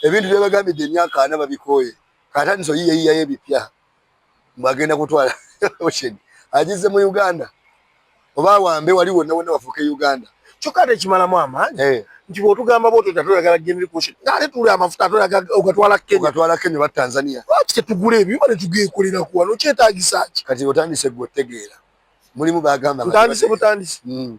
ebintu byebagambidde emyaka ana babikooye kataniso yiyeyiyayo ebipya mbagenda kutwala ocean agize mu uganda oba wambe wali wonna wonna wafuuka e uganda kyokka ate ekimalamu amaanyi eh. nti bwotugamba bwotyo tatweyagala gende kuce ngaate tuli amafuta atweyagala ogatwala kenya ogatwala kenya oba tanzania lwaki tetugula ebyo bale tugekolera ku wano kyetagisa ki kati otandise gwe otegeera mulimu bagamba ntandise butandise hmm.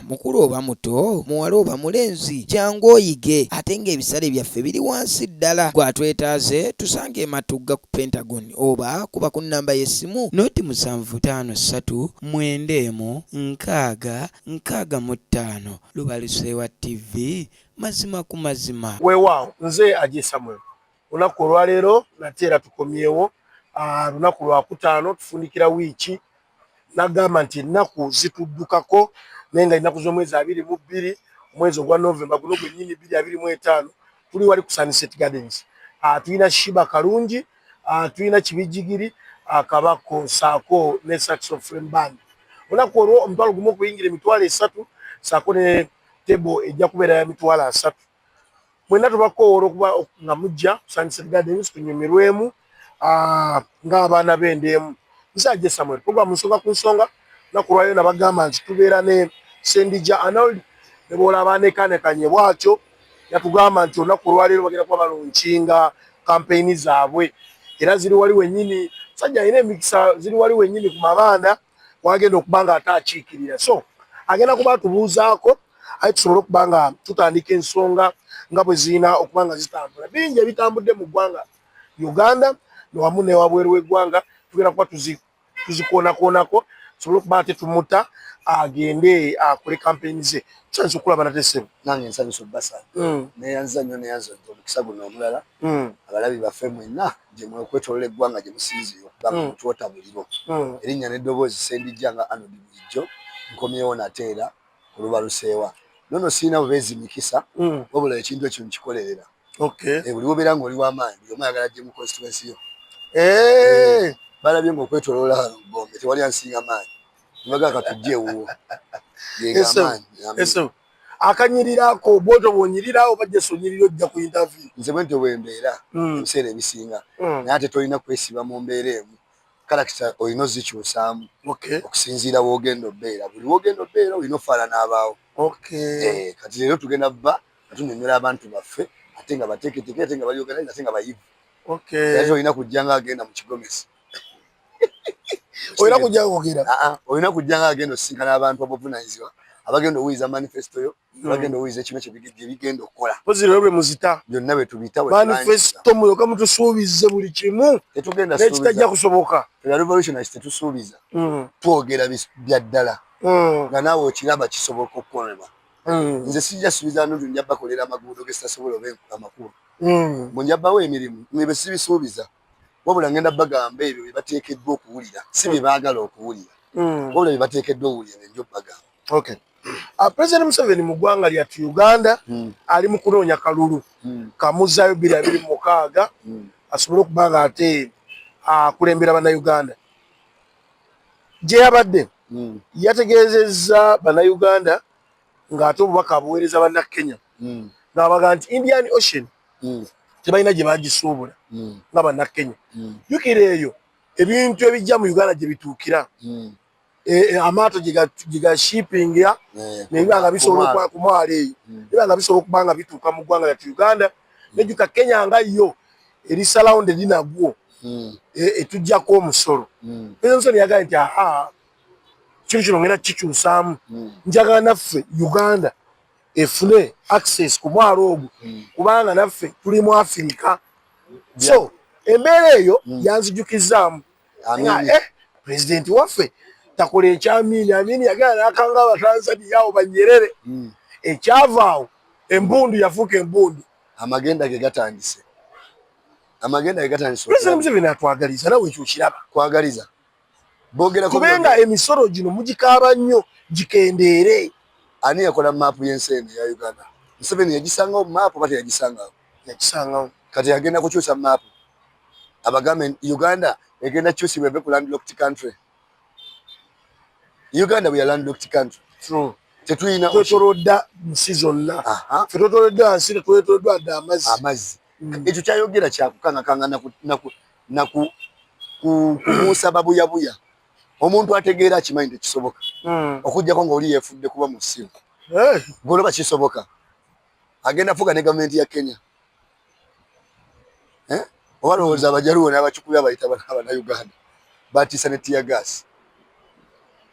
mukulu oba muto muwala oba mulenzi jangu oyige ate ng'ebisale byaffe biri wansi ddala gwatwetaaze tusange ematugga ku pentagon oba kuba ku nnamba y'essimu noti musanvu taano ssatu mwenda emu nkaaga nkaaga mu ttaano lubaluseewa tv mazima ku mazima weewaawo nze aje samuel olunaku olwaleero nate era tukomyewo ah, lunaku lwakutaano tufundikira wiiki nagamba nti ennaku zituddukako naye nga ennaku z'omwezi abiri mu bbiri omwezi ogwa Novemba guno gwennyini bbiri abiri mu etaano tuli wali ku Sunset Gardens ah, tulina Shiba Kalungi ah, tulina Kibijigiri ah, Kabako saako ne Saxo Flame Band olunaku olwo omutwalo gumu okuyingira emitwalo esatu saako ne tebo ejja kubeera ya mitwalo asatu mwena tubakowoola okuba nga mujja kusanyused gardens tunyumirwemu ah, ng'abaana b'enda emu musajja samuel program nsonga ku nsonga nakulwayo nabagamba nti tubeera ne sendija anold nebwola abanekanekanye bwatyo yatugamba nti olunaku olwaleero bagenda kuba balunkinga kampeyini zaabwe era ziri wali wenyini sajja alina emikisa ziri wali wenyini ku mabanda wagenda okuba nga ate akiikirira so agenda kuba tubuuzaako aye tusobole okuba nga tutandika ensonga nga bwe zirina okuba nga zitambula bingi ebitambudde mu ggwanga uganda newamu newabweru w'eggwanga tugenda kuba tuzikoonakoonako tusobole okuba ate tumuta agende akole kampeyini ze tusanyusa okulaba nate ssebo nange nsanyusa obbasa mm. neyanziza nnyo neyanza omukisa guno omulala mm. abalabi baffe mwenna gyemwe okwetolola eggwanga gye musinziira okugamba hmm. mutwota muliro hmm. erinnya n'eddoboozi sendijja nga anodi bulijjo nkomyewo nate era olubaluseewa nono sirina bubeezi mikisa hmm. wabula ekintu ekyo nkikolerera eh, buli wobeera nga oli wamaanyi buli omu ayagala gye mu constituensi yo eh. Eh, balabye nga okwetolola gombe tewali ansinga maanyi nibagaa katujja ewuwo yegamaanyi akanyirira ako bwoto bwonyirira oba just onyirira ojja ku interview nze bwentyo bwembeera hmm. ebiseera ebisinga hmm. naye ate tolina kwesiba mu mbeera emu karakita olina ozikyusaamu okusinziira wogenda obeera buli wogenda obeera olina ofaala n'abaawo eh, kati leero tugenda bba nga tunyonyola abantu baffe ate nga bateeketeke ate nga balyogera ate nga bayivu olina kujja nga agenda mu kigomesi olina kujja kwogera ah, ah, olina kujja nga agenda osisinkana abantu abavunanyizibwa abagenda owuliza manifesto yo hmm. abagenda owuliza ekimu kyebigenda okukola ozirolwe muzita byonna bwetubita manifesto muyoka mutusuubize buli kimu nekitajja kusoboka revolutionis tetusuubiza hmm. twogera byaddala hmm. nga naawe okiraba kisoboka okukolebwa nze sijja suubiza nundu njabakolera amaguudo gesitasobola oba amakubo munjabawo emirimu nebe sibisuubiza wabula ngenda bagamba ebyo bye bateekeddwa okuwulira si bye baagala okuwulira hmm. wabula bye bateekeddwa okuwulira bye njo bagamba okay Uh, president museveni mu ggwanga lyattu uganda mm. ali mu kunoonya kalulu mm. kamuzzayo biri abiri mu mukaaga mm. asobole okuba nga ate akulembera bannayuganda gye yabadde mm. yategeezezza bannayuganda ng'ate obubaka abuweereza bannakenya hmm. ng'abaga nti indian ocean hmm. tebalina gye bagisuubula hmm. nga bannakenya jukira eyo ebintu ebijja mu uganda gye bituukira e, e, amaato gyegashipinga eh, nebiba nga bisobola ku mwalo eyo biba nga bisobola okuba nga bituuka mu ggwanga lyatu uganda nejuka kenya nga yo eri salawundi erinagwo etujjako omusolo ezo nsoni yagaye nti aha ekintu kino ngenda kikyusaamu hmm. njagala naffe uganda efune access ku mwalo ogwo hmm. kubanga naffe tuli mu afirika so embeera eyo hmm. yanzijukizaamu nga eh, pulezidenti waffe takola ekyamiini amiini yagala nakanga abatanzania awo banyerere ekyavaawo embundu yafuuka embundu amagenda ge gatandise amagenda ge gatandise pulezidenti museveni atwagaliza nawe ekyo okiraba kwagaliza kubenga emisolo gino mugikaaba nnyo gikendeere. Ani yakola maapu y'ensi eno eya Uganda? Museveni yagisangawo mu maapu oba teyagisangawo? Yagisangawo. Kati agenda kukyusa maapu abagambe Uganda egenda kyusibwa eve ku landlocked country. Uganda we are landlocked country. True. Tetuyina twetolodda nsi zonna. Ffe twetoloddwa nsi, twetoloddwa dda amazzi. Amazzi. Mm. Ekyo kyayogera kyakukangakanga naku na ku kubuusa babuyabuya omuntu ategeera akimanyi nti kisoboka hmm. okujjako nga oli yefudde kuba musiru eh. goloba kisoboka agenda fuga ne gavumenti ya kenya eh? oba lowooza hmm. abajaluwo n'abakikubi abayita abanauganda batiisa ne tiya gaasi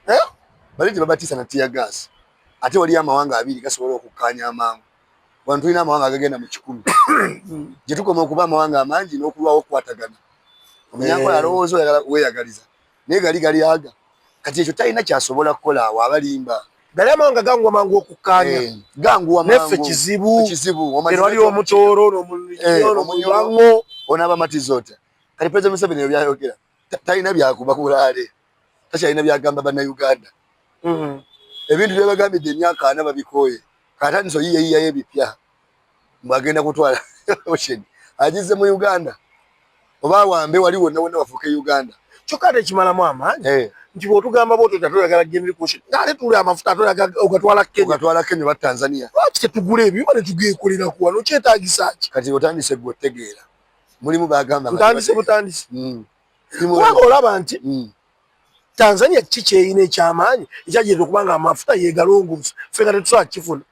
eh? bali nti babatiisa na tiya gaasi ate waliyo amawanga abiri gasobola okukkaanya amangu wano tulina amawanga agagenda mu kikumi gye tukoma okuba amawanga amangi n'okulwawo okukwatagana omunyankola eh. alowooza oyagala weyagaliza naye gali gali aga kati ekyo talina kyasobola kukola awo abalimba gali amawanga ganguwa mangu okukkaanya eh. ganguwa neffe kizibu kizibu wali omutooro nomunywango onaabamatiza otya kati president museveni ebyo byayogera talina byakuba kulaale takyalina byagamba bannayuganda mm-hmm. ebintu byebagambidde emyaka ana babikooye katandisa oyiyayiyayo ebipya mbwagenda kutwala ocean agize mu uganda oba awambe wali wonna wonna wafuuka e uganda kyokka ate ekimalamu amaanyi eh. nti bwotugamba bwotyo tatweyagala genda kuocean ngaate tuli amafuta atweyagala ogatwala kenyatwala kenya oba tanzania lwaki tetugula ebyo bale tugekoleraku wano kyetagisa ki kati otandise gwe otegeera mulimu bagamba butandisi butandisi mm. kubanga olaba nti mm. tanzania kiki kyeyina ekyamaanyi ekyajireta okuba nga amafuta yegalongoosa fe nga tetusobola kukifuna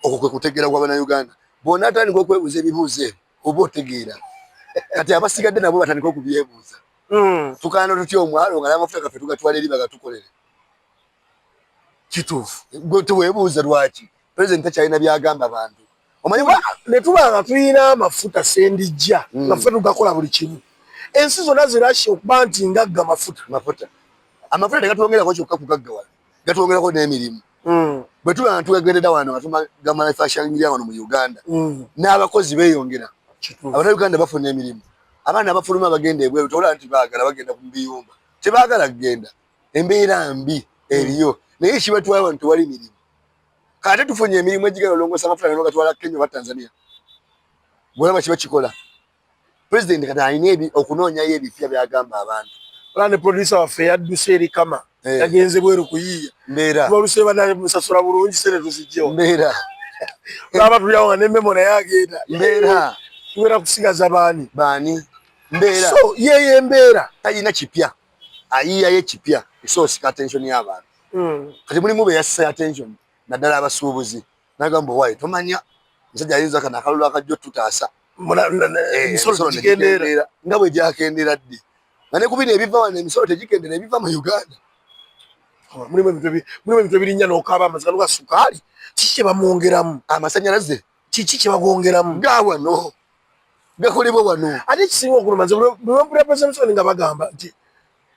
okwo kwe kutegeera kwa banauganda bona atandika okwebuuza ebibuuzo ebyo oba otegeera kati abasigadde nabo batandika okubyebuuza mm. tukaana tutya omwalo nga namafuta gaffe tugatwala eri bagatukolere kituufu gwe tewebuuza lwaki president takyalina byagamba bantu omanyi netuba nga tulina amafuta sendijja mm. mafuta tugakola buli kimu ensi zonna zirasha okuba nti ngagga mafuta mafuta amafuta tegatwongerako kyokka kugaggawala gatwongerako n'emirimu mm. bwe tuba nga tugagendeda wano nga tumagamanafaashalingira wano mu uganda mm. n'abakozi beyongera abana uganda bafuna emirimu abaana abafuluma bagenda ebweru tolaba nti baagala bagenda ku biyumba tebagala kugenda embeera mbi eriyo naye ekibatwala wano tewali mirimu kate tufunye emirimu egigenda olongosa amafuta gano gatwala kenya oba tanzania bwolaba kiba kikola pulezidenti kati alina okunoonyayo ebipya byagamba abantu ola ne producer waffe yadduse eri kama eh. yagenze bweru kuyiiya mbeera tubaluse banaye musasula bulungi sente tuzijjewo mbeera olaba tulyawo nga nememo naye agenda mbeera tubeera kusigaza baani baani mbeera so yeyo embeera talina kipya ayiiyayo ekipya esoosika attention y'abantu hmm. kati mulimu be yassa attention naddala abasuubuzi nagamba owaayo tomanya musajja ayinza kana akalulu akajja otutaasa eh, emisolo negikendeera nga bwe gyakendeera ddi nga ne ku bino ebiva wano emisolo tegikendeera ebiva mu uganda oh, mulimu ebintu ebirinya n'okaaba amaziga nuga sukaali kiki kye bamwongeramu amasanyalaze kiki kyebagongeramu ga wano gakolebwa wano ate ekisinga okuluma nze bwempulira presenson nga bagamba nti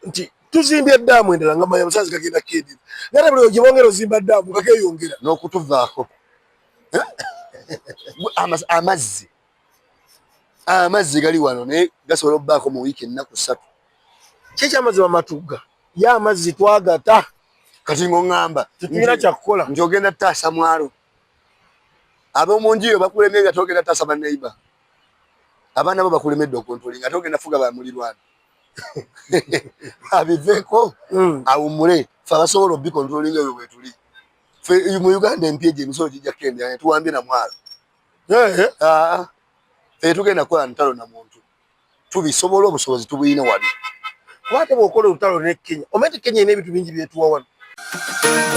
nti tuzimbye daamu endala nga manya musaazi kagenda kedi nate buli gyebongera ozimba daamu kakeyongera n'okutuvaako amazzi amazzi gali wano naye gasobola okubaako mu wiiki ennaku ssatu kyekyamazzi bamatugga ye amazzi twagata kati ng'oŋŋamba tetulina kyakukola nti ogenda taasa mwalo ab'omu nju yo bakulemye nga togenda tasa baneiba abaana bo bakulemedde okontoli nga togenda fuga bamulirwana abiveeko hmm. awumule fe abasobola obikontololinga ebyo bwetuli fe mu uganda empya egyo emisolo gijja kukendera netuwambye na mwalo fe tugenda kukola ntalo na muntu tubisobola obusobozi tubuyina wano kuba ate bwokola olutalo ne kenya omanyi nti kenya ina ebintu bingi byetuwa wano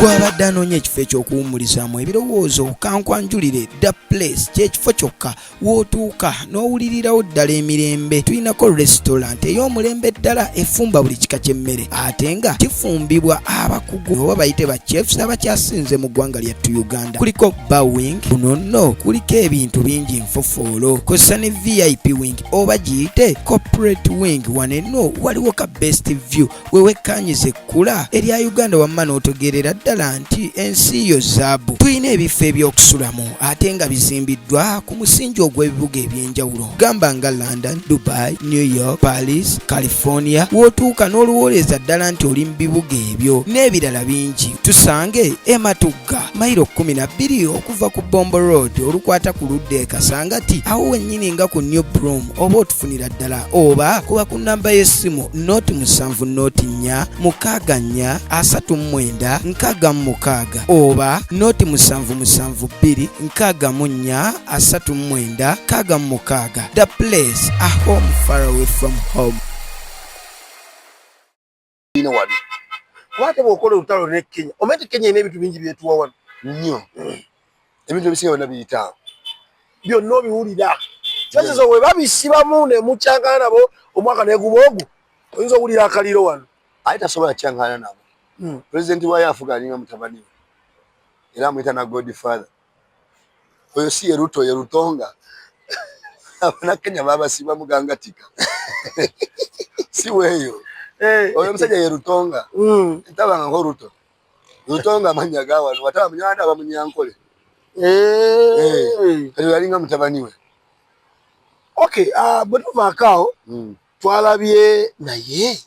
gwabadde anoonya ekifo eky'okuwumurizaamu ebirowoozo kankwanjulire da place kyekifo kyokka wootuuka n'owulirirawo ddala emirembe tulinako restaurant ey'omulembe ddala efumba buli kika ky'emmere ate nga kifumbibwa abakugu oba bayite ba chefs abakyasinze mu ggwanga lyattu uganda kuliko ba wing kuno nno kuliko ebintu bingi nfofoolo kozesa ne vip wing oba giyite corporate wing wanenno waliwo ka best view wewekkanyiza ekkula erya uganda wamma n'otegeerera ddala nti ensi yo zaabu tulina ebifo ebyokusulamu ate nga bizimbiddwa ku musingi ogw'ebibuga eby'enjawulo gamba nga london dubai new york paris california w'otuuka n'oluwooleza ddala nti oli mu bibuga ebyo n'ebirala bingi tusange ematu kyokka mayiro kkumi na bbiri okuva ku bombo road olukwata ku ludda e kasangati awo wennyini nga ku new broom oba otufunira ddala oba kuba ku nnamba y'essimu nooti musanvu nooti nnya mukaaga nnya asatu mu mwenda nkaaga mu mukaaga oba nooti musanvu musanvu bbiri nkaaga mu nnya asatu mu mwenda kaaga mu mukaaga the place a home far away from home ino wano kwate bwokola olutalo ne kenya omete kenya ina ebintu bingi byetuwa wano nyo ebintu ebisinga byona biyitaawo byonna obiwulira kyazizo we babisibamu ne mukyangana nabo omwaka neguba ogu oyinza owulira akaliro wano aye tasobola kyangana nabo hmm. pulezidenti wayo afuga alinga mutabani we era amuyita na godfather oyo si ye ruto ye rutonga abanakenya babasiba mugangatika si weeyo eh. oyo omusajja ye rutonga mm. tabangako ruto rutonga amanya gawano wataba munyanda aba munyankole eh. Eh. kati yalinga mutabani we okay ah, bwe tuvaakaawo mm. twalabye naye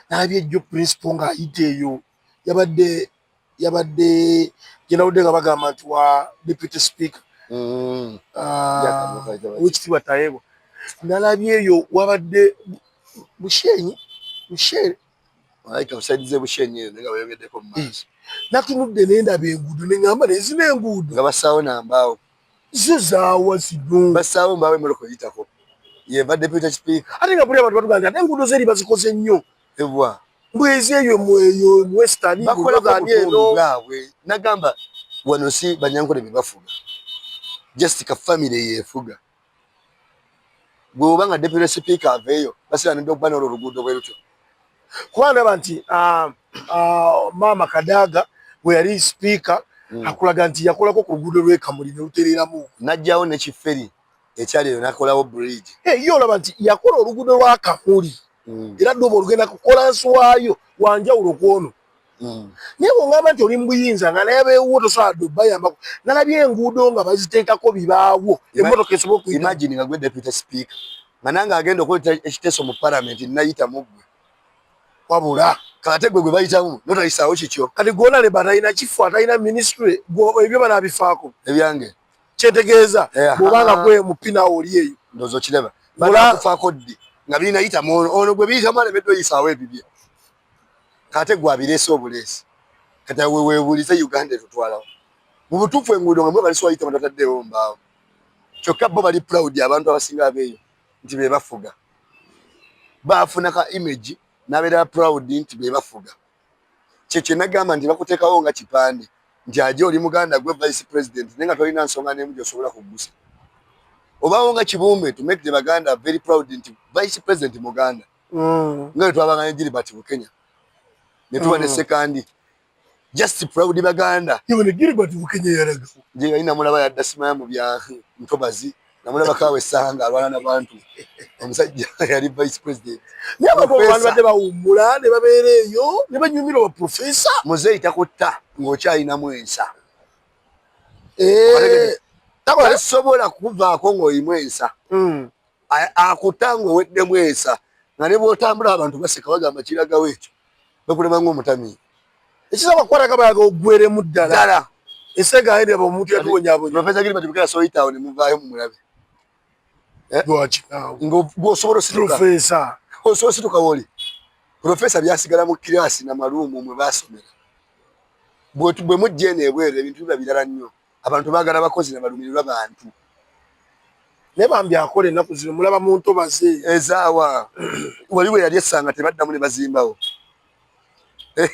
nalabye jjo principal ng'ayita eyo yabadde yabadde gyenawudde nga bagamba nti wa deputy speaker mm. ah, wekitibwa tayebwa nalabye eyo wabadde bushenyi bushere natunudde nendaba enguudo nengamba nezina enguudo nga basaawo nambaawo zo zaawa zino basaawo mbaawo emmotoka oyitako yeva deputy speaker ate nga buli abantu batugamba nti ate enguudo zeri bazikoze nnyo ebwa mbwezi eyo mweyo western bakola kwa eno bwabwe nagamba wano si banyankole bebafuga just ka family yefuga gwoba nga deputy speaker aveyo basira ndo bana ro rugudo bweruto kwa ndaba nti uh, uh, mama kadaga we yali speaker mm. akulaga nti yakolako ku rugudo lwe kamuli ne uterera mu najjawo ne kiferi ekyali eyo nakolawo bridge eh, ye olaba nti yakola oluguudo lwa kamuli mm. era ddobo olugenda kukola nsi waayo wanjawulo kwono mm. naye bwongamba nti oli mubuyinza nga naye beewuwo tosobola dde obayambako nalabye enguudo nga baziteekako bibaawo emotoka esobola okuimagine nga gwe deputy speaker nga nange agenda okuleta ekiteeso mu palamenti nayita muggwe wabula kate gwe gwe bayitamu notayisaawo kikyo kati gwona leba atalina kifo atalina ministry ebyo banabifaako ebyange kyetegeeza eh, bwoba nga gwe mupina oli eyo ndozo kiraba banakufaako ddi nga birina yitamu ono ono gwe biyitamu alemedde oyisaawo ebibye kate gwe abireese obuleesi kati awe weebuulize uganda etutwalawo mu butuufu enguudo nga mwe balisiwayita batataddeewo mbaawo kyokka bo bali proud abantu abasinga abeeyo nti be bafuga baafuna ka image n'abeera proud nti be bafuga kyekye nagamba nti bakutekawo nga kipande nti aje oli muganda gwe vice president naye nga tolina nsonga nemu gyosobola kugusa obawo nga kibumbe to make the baganda very proud nti vice president muganda mm. nga wetwabangane jiri bati bukenya netuba mm. nesekandi just proud baganda gilbert bukenya yaraga jeyalina mulaba yadda simaya mu bya ntobazi namulaba kawe sanga alwana na bantu omusajja yali vice president nyabago abantu badde bawummula ne babeera eyo ne banyumira oba profesa muzeeyi takutta ng'okyalinamu ensa eh. tasobola kuvaako ng'oyimu ensa hmm. akuta ng'oweddemu ensa nga ne bwotambula abantu baseka bagamba kiragawo ekyo bekulema ng'omutamiivu ekisaba kukwataka bayaga ogweremu ddala ddala esega ayi nebo omuntu yatuwonyabonya profesa gilbert bukera soyitawo ne muvaayo mumulabe eh? lwaki awo ng'osobola osituka profesa osobola osituka woli profesa byasigala mu kiraasi na maluumu mwe baasomera bwe mujja eno ebweru ebintu biba birala nnyo abantu bagala bakozi na balumirirwa bantu naye bambi akola ennaku zino mulaba mu ntobazi ezaawa wali we yali essanga tebaddamu ne bazimbawo eh,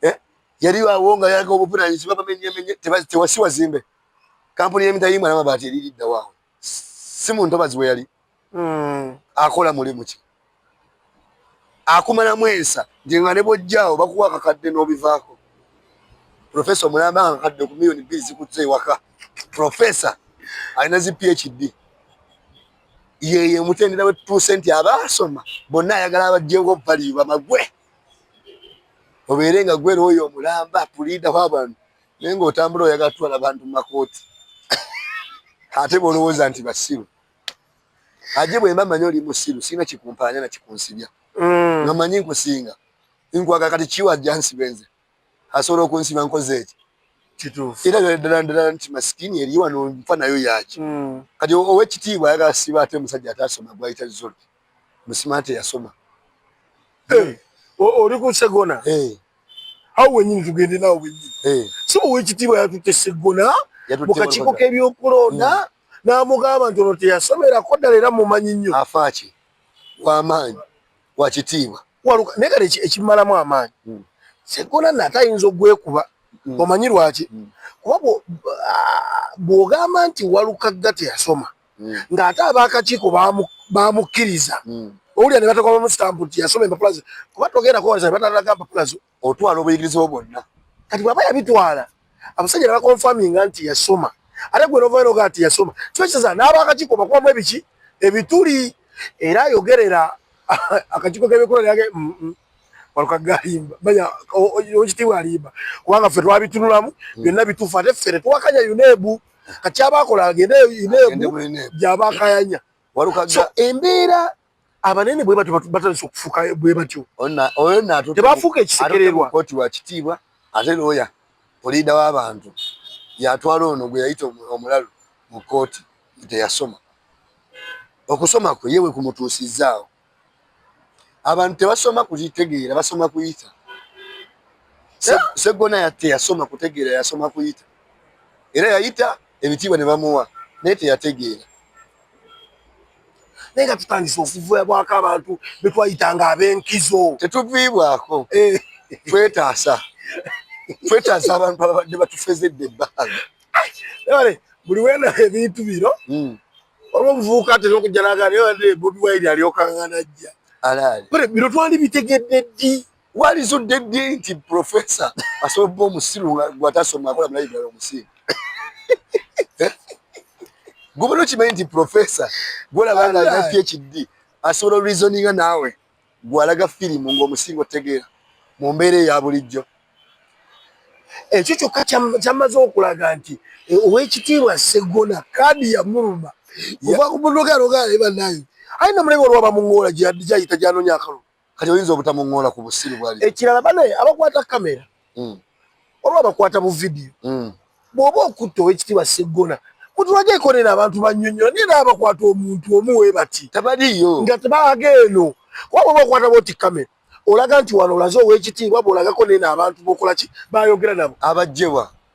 eh, yali awo nga yalaga obuvunanyizibwa bamenyemenye tewasi wazimbe kampuni y'emitayimu alamabaati eririddawo awo si mu ntobazi we yali mm. akola mulimu ki akumalamu ensa nti nga ne bwojjaawo bakuwa akakadde n'obivaako profesa omulamba nga kakadde ku miliyoni bbiri zikutza ewaka profesa alina zi phd yeye omutendera wetutuuse nti abaasoma bonna ayagala abajjenga obubaliyo bamagwe obeere nga gwera oyo omulamba puliidaho abantu naye ngaotambula oyagala tutwala bantu mu makooti ate bolowooza nti basiru aje bwemba manyi oli musiru sirina kikumpaanya na kikunsibya mm. nga manyi nkusinga nkwaga kati kiwa ajja nsibe nze asobola okunsiba nkoze eki kituufu era ddala ddala nti masikini eri wano nfa nayo yaki mm. kati owekitiibwa ayagala siba ate omusajja ataasoma gwayita zol musima ate yasoma eh, oli ku segona eh. awo wenyini tugende nawo wenyini eh. si owekitiibwa yatutte segona mu kakiiko k'ebyokulonda mm. n'amugamba nti ono teyasomerako ddala era mumanyi nnyo afaaki wamaanyi wakitiibwa waluka naye kati ekimalamu amaanyi hmm. segona nate ayinza ogwekuba hmm. omanyi lwaki hmm. kuba bw'ogamba nti walukagga teyasoma ng'ate ab'akakiiko baamukkiriza owulira ne batakoba musitampu nti yasoma empapula ze kuba togenda kuwoleza ne batalaga mpapula zo otwala obuyigirize bwo bwonna kati bwaba yabitwala abasajja nabakonfaminga nti yasoma ate gwe novayo nogaa nti yasoma kiwekiteza n'abaakakiiko bakubamu ebiki ebituli era ayogerera akakiiko k'ebikula lyage mm, mm. walukagalimba manya okitibwa alimba kubanga ffe twabitunulamu hmm. byonna bituufu ate ffe tetuwakanya yuneebu kati abakola agende yuneebu gyabakayanya so embeera abanene bwe batyo batandise okufuuka bwe batyo tebafuuka ekisekererwa koti wa kitiibwa ate looya puliida w'abantu yatwala ono gwe yayita omulalu mu kooti teyasoma okusoma kwe yewe kumutuusizzaawo abantu tebasoma kukitegeera basoma kuyita seggona teyasoma kutegeera yasoma kuyita era yayita ebitiibwa ne bamuwa naye teyategeera naye nga tutandise okuviibwako abantu betwayita nga abenkizo tetuviibwako eh. twetaasa twetaasa abantu ababadde batufezedde ebbanga buli wena ebintu bino hmm. olwobuvubuka atera okujja nagana bobi wine alyokangana jja bino twali bitegedde ddi walizudde ddi nti profesa asobola okuba omusiru gwatasoma akola mulayibulala omusiru eh? gubona okimanyi nti profesa gwolabanga alina phd asobola reasoninga naawe gwalaga firimu ngaomusinga otegeera mu mbeera eya bulijjo ekyo kyokka kyamaze okulaga nti eh, owekitiibwa segona kaadi yamuluma ovakumunogalogaale banaye ayina mulebe olwaba muŋoola gyayita gyanonya akalulu kati oyinza obutamuŋoola ku busiru bwali ekirala bane abakwata kamera hmm. oba abakwata bu vidiyo hmm. bwoba okutta owekitiibwa seggona mutulage ekolera abantu banyonyola naye naa bakwata omuntu omu we bati tabaliyo nga tebaaga eno kuba bwoba okwata boti kamera olaga nti wano olaze owekitiibwa bwolagako naye naabantu bokolaki bayogera nabo abajjebwa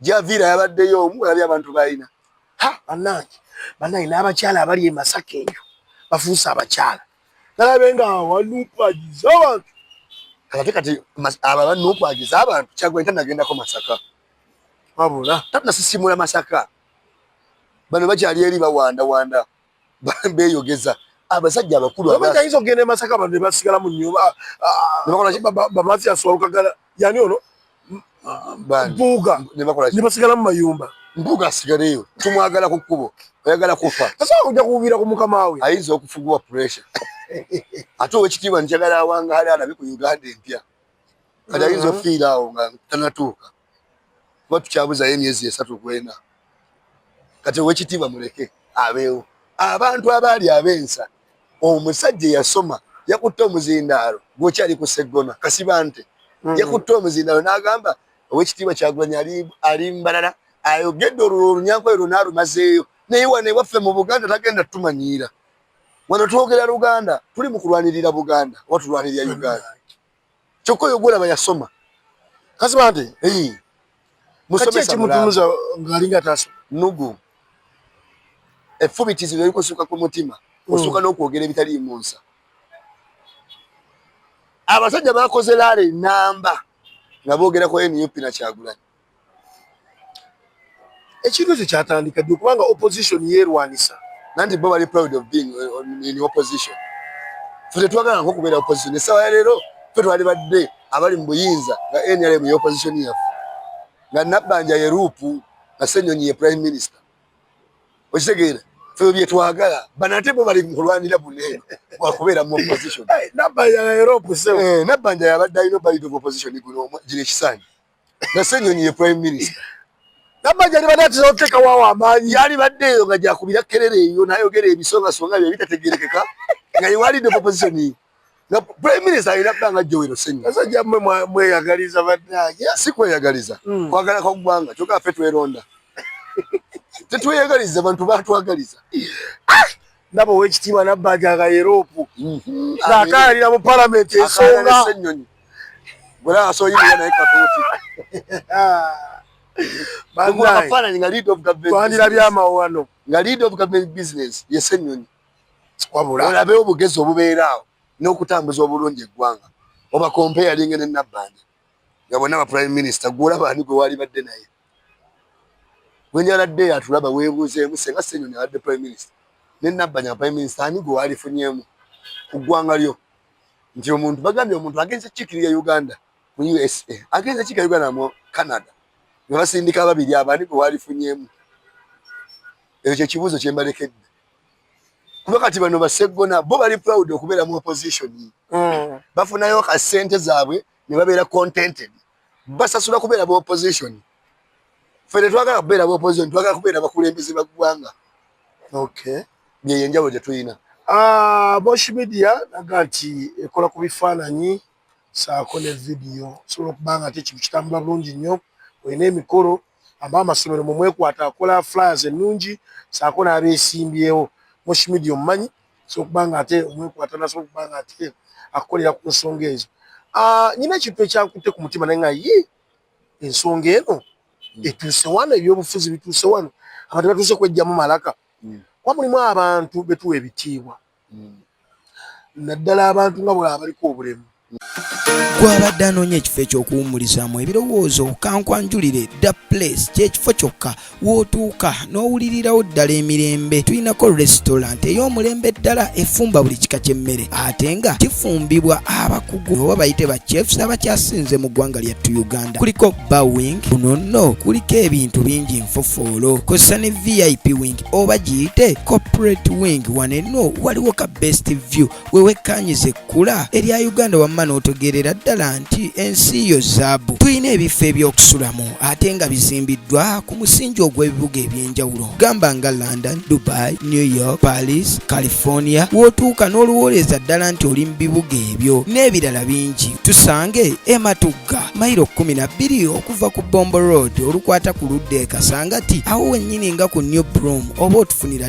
Javira yabaddeyo omu olabye abantu balina ha banange banange n'abakyala abali e Masaka eyo bafuuse abakyala nalabe nga wanupagiza abantu kati kati aba banupagiza abantu kyagwe ntanagendako Masaka wabula tatnasisimula Masaka bano bakyali eri bawandawanda beyogeza abasajja abakulu abayinza okugenda emasaka abantu nebasigala mu nyumba bamathias walukagala yani ono mpuuga nebasigala mu mayumba mpuuga asigaleyo tumwagala ku kkubo oyagala kufa asobola kuja kuwubira ku mukama we ayinza okufugibwa pressure ate owekitiibwa njagala awangaale alabe ku uganda empya kati ayinza ofiira awo nga tanatuuka kuba tukyabuzayo emyezi esatu kwena kati owekitiibwa muleke abeewo abantu abaali abensa omusajja yasoma yakutte omuzindaalo gwokyali ku seggona kasibante mm. yakutte omuzindaalo n'agamba owekitiibwa kyagulanyi ali mbalala ayogedde olwo olunyankole lwona alumazeeyo naye wano ewaffe mu buganda tagenda tumanyiira wano twogera luganda tuli mu kulwanirira buganda oba tulwanirira uganda kyokka oyo gwolaba yasoma kasiba nti musomesakimutunuza ngaalinga taso nugu efubitizi lelikusuka ku mutima hmm. osuka n'okwogera ebitali munsa abasajja bakoze laala enamba nga boogera ku nup nakyagulanyi ekintu ekyo kyatandika ddi kubanga opposition yeerwanisa nanti bo bali proud of being uh, in opposition fe tetwagala nko okubeera opposition essaawa ya leero fe twali badde abali mu buyinza nga nrm ye opposition yaffe nga nabbanja ye ruupu nga senyonyi ye prime minister okitegeera fe byetwagala banate bo bali mukulwanira bune wakubeera mu opposition nabbanja yabadde alina obalid of opposition guno gino ekisaani na Ssenyonyi ye prime minister namanya alibadde atera okuteekawo awo amaanyi yalibadde eyo nga gyakubira kerere eyo nayogera ebisongasonga bye bitategerekeka nga yewalidde proposition ye nga prime minister alina kuba nga jowero senya basajja mmwe mweyagaliza bannange si kweyagaliza hmm. kwagala kwa ggwanga kyoka ffe tweronda tetweyagaliza bantu batwagaliza ah! ndaba owekitiibwa nabbanja nga yeroopu mm-hmm. akayalira mu palamenti ensonga twandiraby amawano yesenyonyi olabe obugezi obubeeraawo n'okutambuza obulungi eggwanga obakompe yalinga ne nabbanja nga bonna ba prime minister gweolaba ani gwe waalibadde naye gwenyaladde yatulaba webuuzeemu senga senyonyi abadde prime minister ne nabbanya prime minister ani gwe waalifunyeemu ku ggwanga lyo nti omuntu bagambye omuntu agenze kikirira uganda mu usa agenze kikira uganda mu canada nga basindika ababiri abo ani gwe waalifunyeemu ekyo kyekibuuzo kyembalekedde kuba kati bano baseggona bo bali proud okubeera mu opposition mm. bafunayo ka sente zaabwe ne babeera contented basasula kubeera ba opposition ffe tetwagala kubeera ba opposition twagala kubeera bakulembeze ba ggwanga okay yeyo enjawulo gye tulina ah, bosh media naga nti ekola ku bifaananyi saako ne vidiyo osobola okuba nga ate ekintu kitambula bulungi nnyo olina emikolo aba amasomero mumwekwata akola flyers ennungi saako n'abeesimbyewo bosh media omumanyi asobola okuba nga ate omwekwata nasobola okuba nga ate akukolera ku nsonga ezo ah, nyina ekintu ekyankutte ku mutima naye nga ye ensonga eno hmm. etuuse wano ebyobufuzi bituuse wano abantu batuuse kwejjamu malaka hmm. kuba mulimu abantu betuwa ebitiibwa hmm. naddala abantu nga bwaba baliko obulemu gwabadde anoonya ekifo ekyokuwumulizaamu ebirowoozo kankwanjulire da place kyekifo kyokka wootuuka n'owulirirawo ddala emirembe tulinako restaurant ey'omulembe ddala efumba buli kika ky'emmere ate nga kifumbibwa abakugu oba bayite ba chefs abakyasinze mu ggwanga lyattu uganda kuliko bawing kuno nno kuliko ebintu bingi nfofoolo kozesa ne vip wing oba giyite corporate wing wanenno waliwo ka best view we wekkaanyize ekkula erya uganda wamma n'otegeerera ddala nti ensi yo zaabu tulina ebifo eby'okusulamu ate nga bizimbiddwa ku musingi ogw'ebibuga eby'enjawulo gamba nga london dubai new york paris california w'otuuka n'oluwooleza ddala nti oli mu bibuga ebyo n'ebirala bingi tusange ematugga mayiro kkumi na bbiri okuva ku bombo road olukwata ku ludda e kasangati awo wennyini nga ku new broom oba otufunira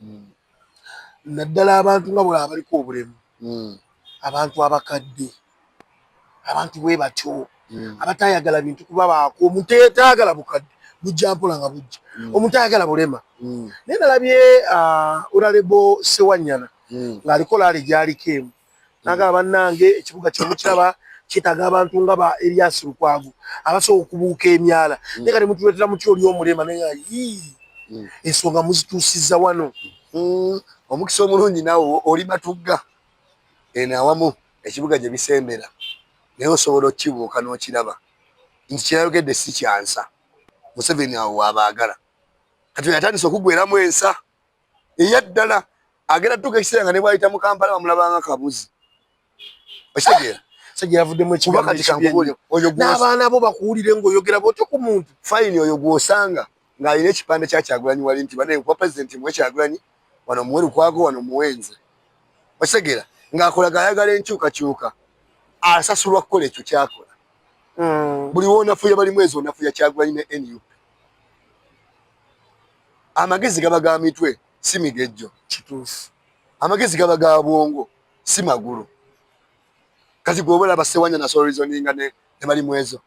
hmm. naddala abantu nga bwolaba baliko obulemu hmm. abantu abakadde abantu bwe batyo hmm. abatayagala bintu kuba baako omuntu eyetayagala bukadde bujja mpola nga bujja omuntu ayagala bulema naye nalabye uh, uralebo sewanyana ng'aliko laali gyaliko emu naga banange ekibuga kino mukiraba kyetaaga abantu nga ba Elias Lukwago abasobola okubuuka emyala mm. naye kati mutuleetera mutya oli omulema naye nga yii mm. ensonga muzituusizza wano mm. omukisa omulungi naawe oli matugga eno awamu ekibuga gye bisembera naye osobola okukibuuka n'okiraba nti kyeyayogedde si kyansa museveni awo waabaagala kati yatandise okugweramu ensa eyaddala agenda tuuka ekiseera nga ne bwayita mu kampala bamulabanga kabuzi okitegeera n'abaana bo bakuwulire ngaoyogera bwotyo ku muntu fayini oyo gwosanga ng'alina ekipande kya kyagulanyi wali nti banaye kuba pulezidenti muwe kyagulanyi wano muwe lukwago wano muwenze okitegeera ng'akolaga ayagala enkyukakyuka asasulwa kukola ekyo kyakola hmm. buli wonafuya bali mwezi onafuya kyagulanyi ne nup amagezi gaba ga mitwe si migejjo kituufu amagezi gaba ga bwongo si magulu kati gweobola basewanya nasolorizoninga ne bali mwezo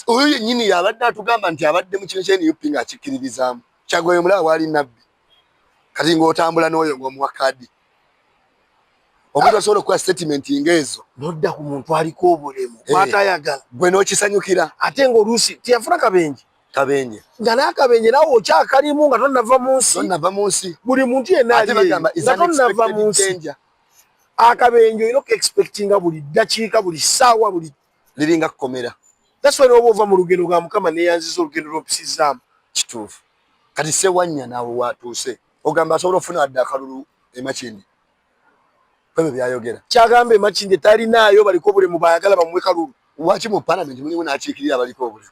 oyo yenyini yabadde atugamba nti abadde mu kino kyenup nga akikkiririzaamu kyagoyo mulaba waali nabbi kati ngaotambula n'oyo ngaomuwa kadi omuntu asobola okukola statement nga ezo nodda ku muntu aliko obulemu eh. kwatayagala gwe n'okisanyukira ate ngaoluusi teyafuna kabenje kabenje nga n'akabenje nawe okyakalimu nga tonnava mu nsi tonnava mu nsi buli muntu yenna alieyo nga tonnava mu nsi akabenje olina okuexpectinga buli ddakiika buli ssaawa buli liringa kukomera taswa noba ova mu lugendo lwa mukama neyanziza olugendo lwompisizaamu kituufu kati sewanya nawe watuuse ogamba asobola ofuna adde akalulu emakindi kwebyo byayogera kyagamba emakindi talinaayo baliko obulemu bayagala bamuwe kalulu waki mu palamenti mulimu nakiikirira abaliko obulemu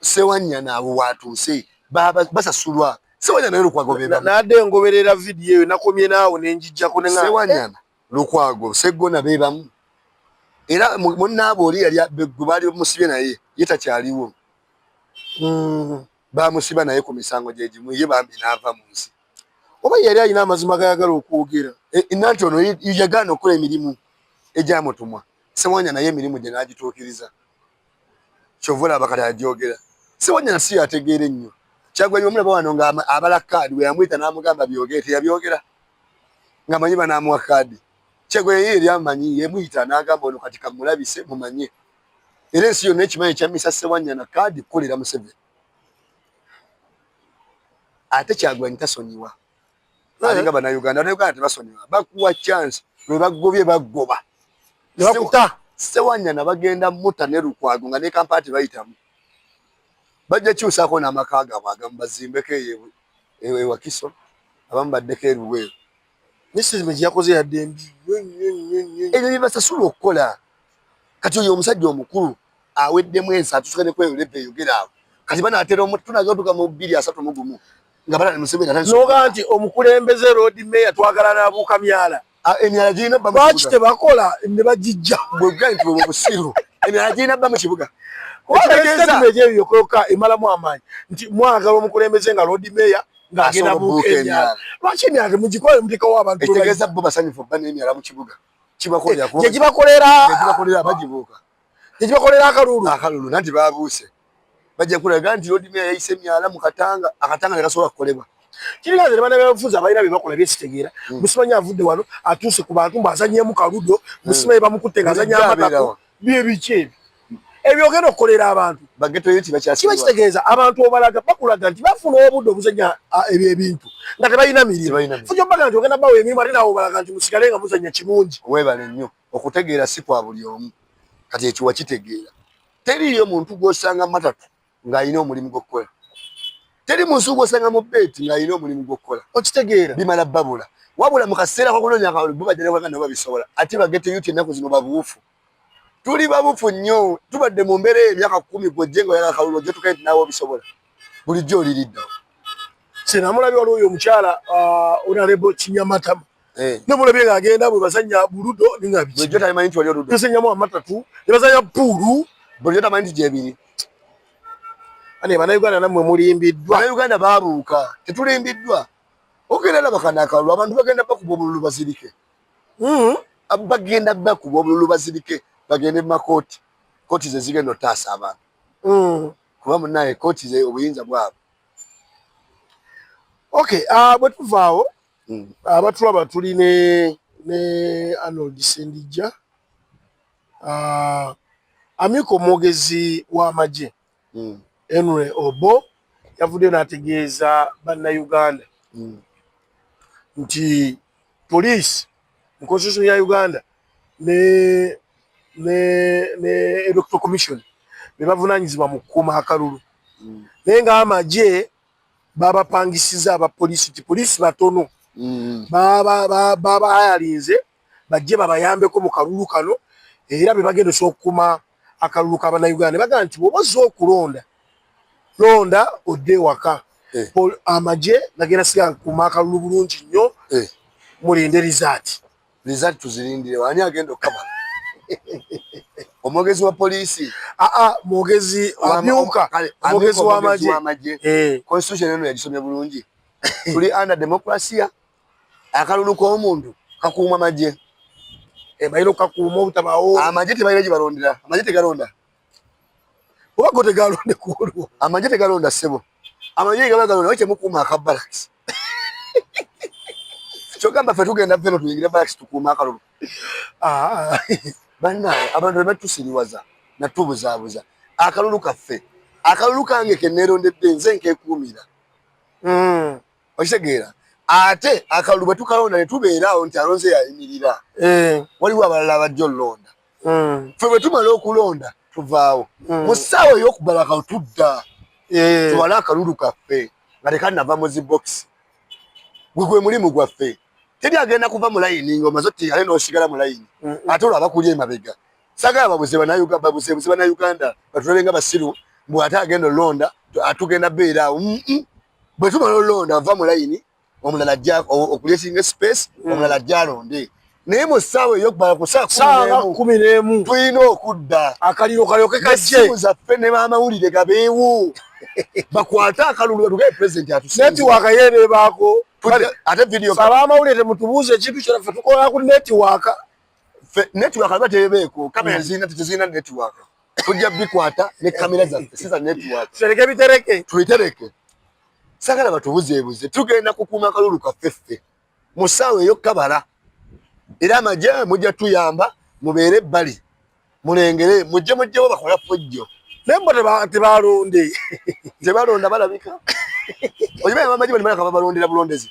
Sewanyana abo watuuse basasulwa Sewanyana naye Lukwago beba nade ngoberera video eyo nakomye naawo nenjijjako ne Sewanyana Lukwago Seggona bebamu era munnaabwe oli yali gwe baali bamusibye naye ye takyaliwo hmm, bamusiba naye ku misango gye gimu ye bambi n'ava mu nsi oba yali alina amazima gayagala okwogera eh, nanti ono yagaana okukola emirimu egyamutumwa Sewanya naye emirimu gye n'agituukiriza kyova olaba kati ajoogera. Sewanya si yategeera ennyo Kyagulanyi bamulaba wano nga abala kaadi bwe yamuyita n'amugamba byogere teyabyogera nga manyi banaamuwa kaadi. Kyagulanyi yali amanyi yamuyita n'agamba ono kati kamulabise mumanye era ensi yonna ekimanyi ekyammisa Sewanya na kaadi kukolera Museveni. Ate Kyagulanyi tasonyiwa eh. alinga bana Uganda na Uganda tebasonyiwa bakuwa chance lwe bagobye bagoba ne bakuta sewanya na bagenda muta ne lukwago nga ne kampati bayitamu bajja kyusa ko na makaga bwaga mbazimbe ke yewe ewe wakiso abamu baddeko eruwe misizi mwe yakoze ya dembi ebyo bibasasula okukola kati oyo omusajja omukulu aweddemu ensi atusukane kweyo lepe yogera awo kati banaatera omutu tunaga tuka mu bbiri asatu mu gumu nga balala museveni atandise noga nti omukulembeze road mayor twagala nabuuka myala emyala girina bba lwaki tebakola ne bagijja bwebuga nti bwebwo busiru emyala girina bba mu kibuga ekyoka emalamu amaanyi nti mwagala omukulembeze nga road mayor ngagenda buuka emyala lwaki emyala temugikola mutekawo abantu ekitegeeza bo basanyufu bba n'emyala mu kibuga kibakolera kibakolera abagibuuka tekibakolera akalulu akalulu nanti babuuse bajja kulaga nti lodimea yayise emyala mu katanga akatanga tekasobola kukolebwa kirina nze nebana byabufuzi abalina byebakola byesitegeera hmm. musimanyi avudde wano atuuse ku bantu mbu azanyemu kaludo hmm. musimanyi bamukutte nga azanya amatako byebiki ebyo ebyogenda okukolera abantu kiba kitegeeza abantu obalaga bakulaga nti bafuna obudde obuzanya ebyo ebintu nga tebalina mirimu fujo baga nti ogenda bawa emirimu ate nawe obalaga nti musigale nga muzanya kirungi webale nnyo okutegeera si kwa buli omu kati ekyo wakitegeera teriiyo muntu gwosanga matatu ng'alina omulimu gw'okukola teri munsi gwosanga mu beeti ng'alina omulimu gw'okukola okitegeera bimala babula wabula mu kaseera k'okunoonya akalulu bo bajja nebaganda nabo babisobola ate bagete yuti ennaku zino babuufu tuli babuufu nnyo tubadde mu mbeera eyo emyaka kkumi gwojje nga oyagala akalulu ojja tukae nti naawe obisobola bulijjo oliridda senamulabi waliwo oyo omukyala uh, onalebo kinyamatama eh. nemulabye nga agenda bwe bazanya buludo ningabisanyamu amatatu ne bazanya puulu bulijjo tamanyi nti gyebiri ane banauganda namwe mulimbiddwa banauganda babuuka tetulimbiddwa ogenda nabakanakalulu abantu bagenda bakuba obululu bazirike hmm? bagenda bakuba obululu bazirike bagende mu makooti kooti zezigenda otaasa abantu hmm. kuba munaye koti ze obuyinza bwabwe okay uh, bwetuvaawo mm. abatulaba uh, tuli ne ne Arnold Sendijja uh, amyuka omwogezi w'amagye mm. Henry Obo yavuddeyo n'ategeeza bannayuganda mm. nti poliisi mu constitution ya Uganda ne ne ne electoral commission bebavunanyizibwa mu kukuuma akalulu mm. naye nga amagye babapangisiza aba polisi ti polisi batono mm. babahayalinze bajje babayambeko mu kalulu kano era bebagenda osobola okukuuma akalulu ka bannayuganda ne bagamba nti bw'oba ozze okulonda londa odde ewaka eh. amagye nagenda siga kuuma akalulu bulungi nnyo eh. mulinde rizaati rizaati tuzirindire waani agenda okukaba omwogezi wa poliisi aa ah, ah, mwogezi amyuka omwogezi w'amagye eh. constitution eno yagisomye bulungi tuli under democracia akalulu k'omuntu kakuuma magye eh, balina okukakuuma obutabaawo amagye tebalina gye balondera amagye tegalonda oba go tegalonde ku olwo amagye tegalonda ssebo amagye ge gaba galonda kyemukuuma aka balakisi kyogamba ffe tugenda feno tuyingire balakisi tukuuma akalulu ah. bannaawe abantu bebatusiriwaza natubuzaabuza akalulu kaffe akalulu kange keneerondedde nze nkekuumira hmm. okitegeera ate akalulu bwe tukalonda ne tubeeraawo nti alonze yayimirira eh. waliwo abalala abajja olulonda hmm. fe bwe tumala okulonda tuvaawo hmm. mu ssaawa ey'okubala kawo tudda eh. tuwale akalulu kaffe nga tekanava mu zibokisi gwe gwe mulimu gwaffe teri agenda kuva mu layini nga omaze oti ale n'osigala mu layini ate olwo abakuli emabega sagala babuze banauganda batulabe nga basiru mbu ate agenda olulonda atugenda beeraawo bwe tumala olonda ova mu layini omulala ajja okulesinga space hmm. omulala ajja alonde naye mu ssaawa eyokubala ku saawa kumi n'emu tulina okudda akaliro kalyoke kajje esimu zaffe ne baamawulire gabeewo bakwate akalulu batugaye pulezidenti atusenetiwaaka yeebeebaako ate vidiyo abaamawulire temutubuuza ekintu kyona ffe tukola ku netiwaaka netiwaaka aba teebeeko kamera hmm. zirina tetezirina netiwaaka tujja bikwata ne kamera zaffe siza network tutereke bitereke tuitereke sagala batubuzeebuze tugenda kukuuma kalulu kaffe ffe mu saawa eyokukabala era amagye mujja tuyamba mubeere ebbali mulengere mujje mujjewo bakola fujjo naye mbo tebalonde tebalonda balabika oiba amagye balimalaka babalondera bulondezi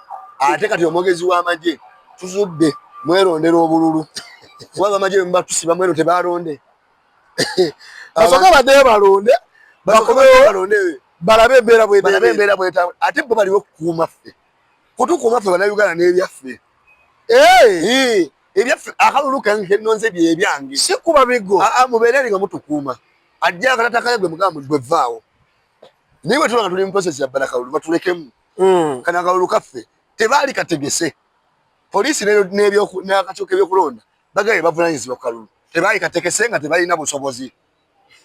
ate kati omwogezi w'amagye tuzudde mwerondera obululu kuba bamagye bemubatusiba mweno tebalonde basoke baddeyo balonde bakomewo balabe embeera bwebalabe embeera bweta ate bo baliwo kukuuma ffe kutukuuma ffe banauganda n'ebyaffe ebyaffe akalulu kange kenonze byebyange si kuba bigo aa mubeere eri nga mutukuuma ajja akatatakale gwe mugamba gwe vaawo naye bwe tuba nga tuli mu process ya bbala kalulu batulekemu mm. kana akalulu kaffe tebaali kategese poliisi n'akakiiko k'ebyokulonda bagaye bavunanyizibwa ku kalulu tebaali kategese nga tebalina busobozi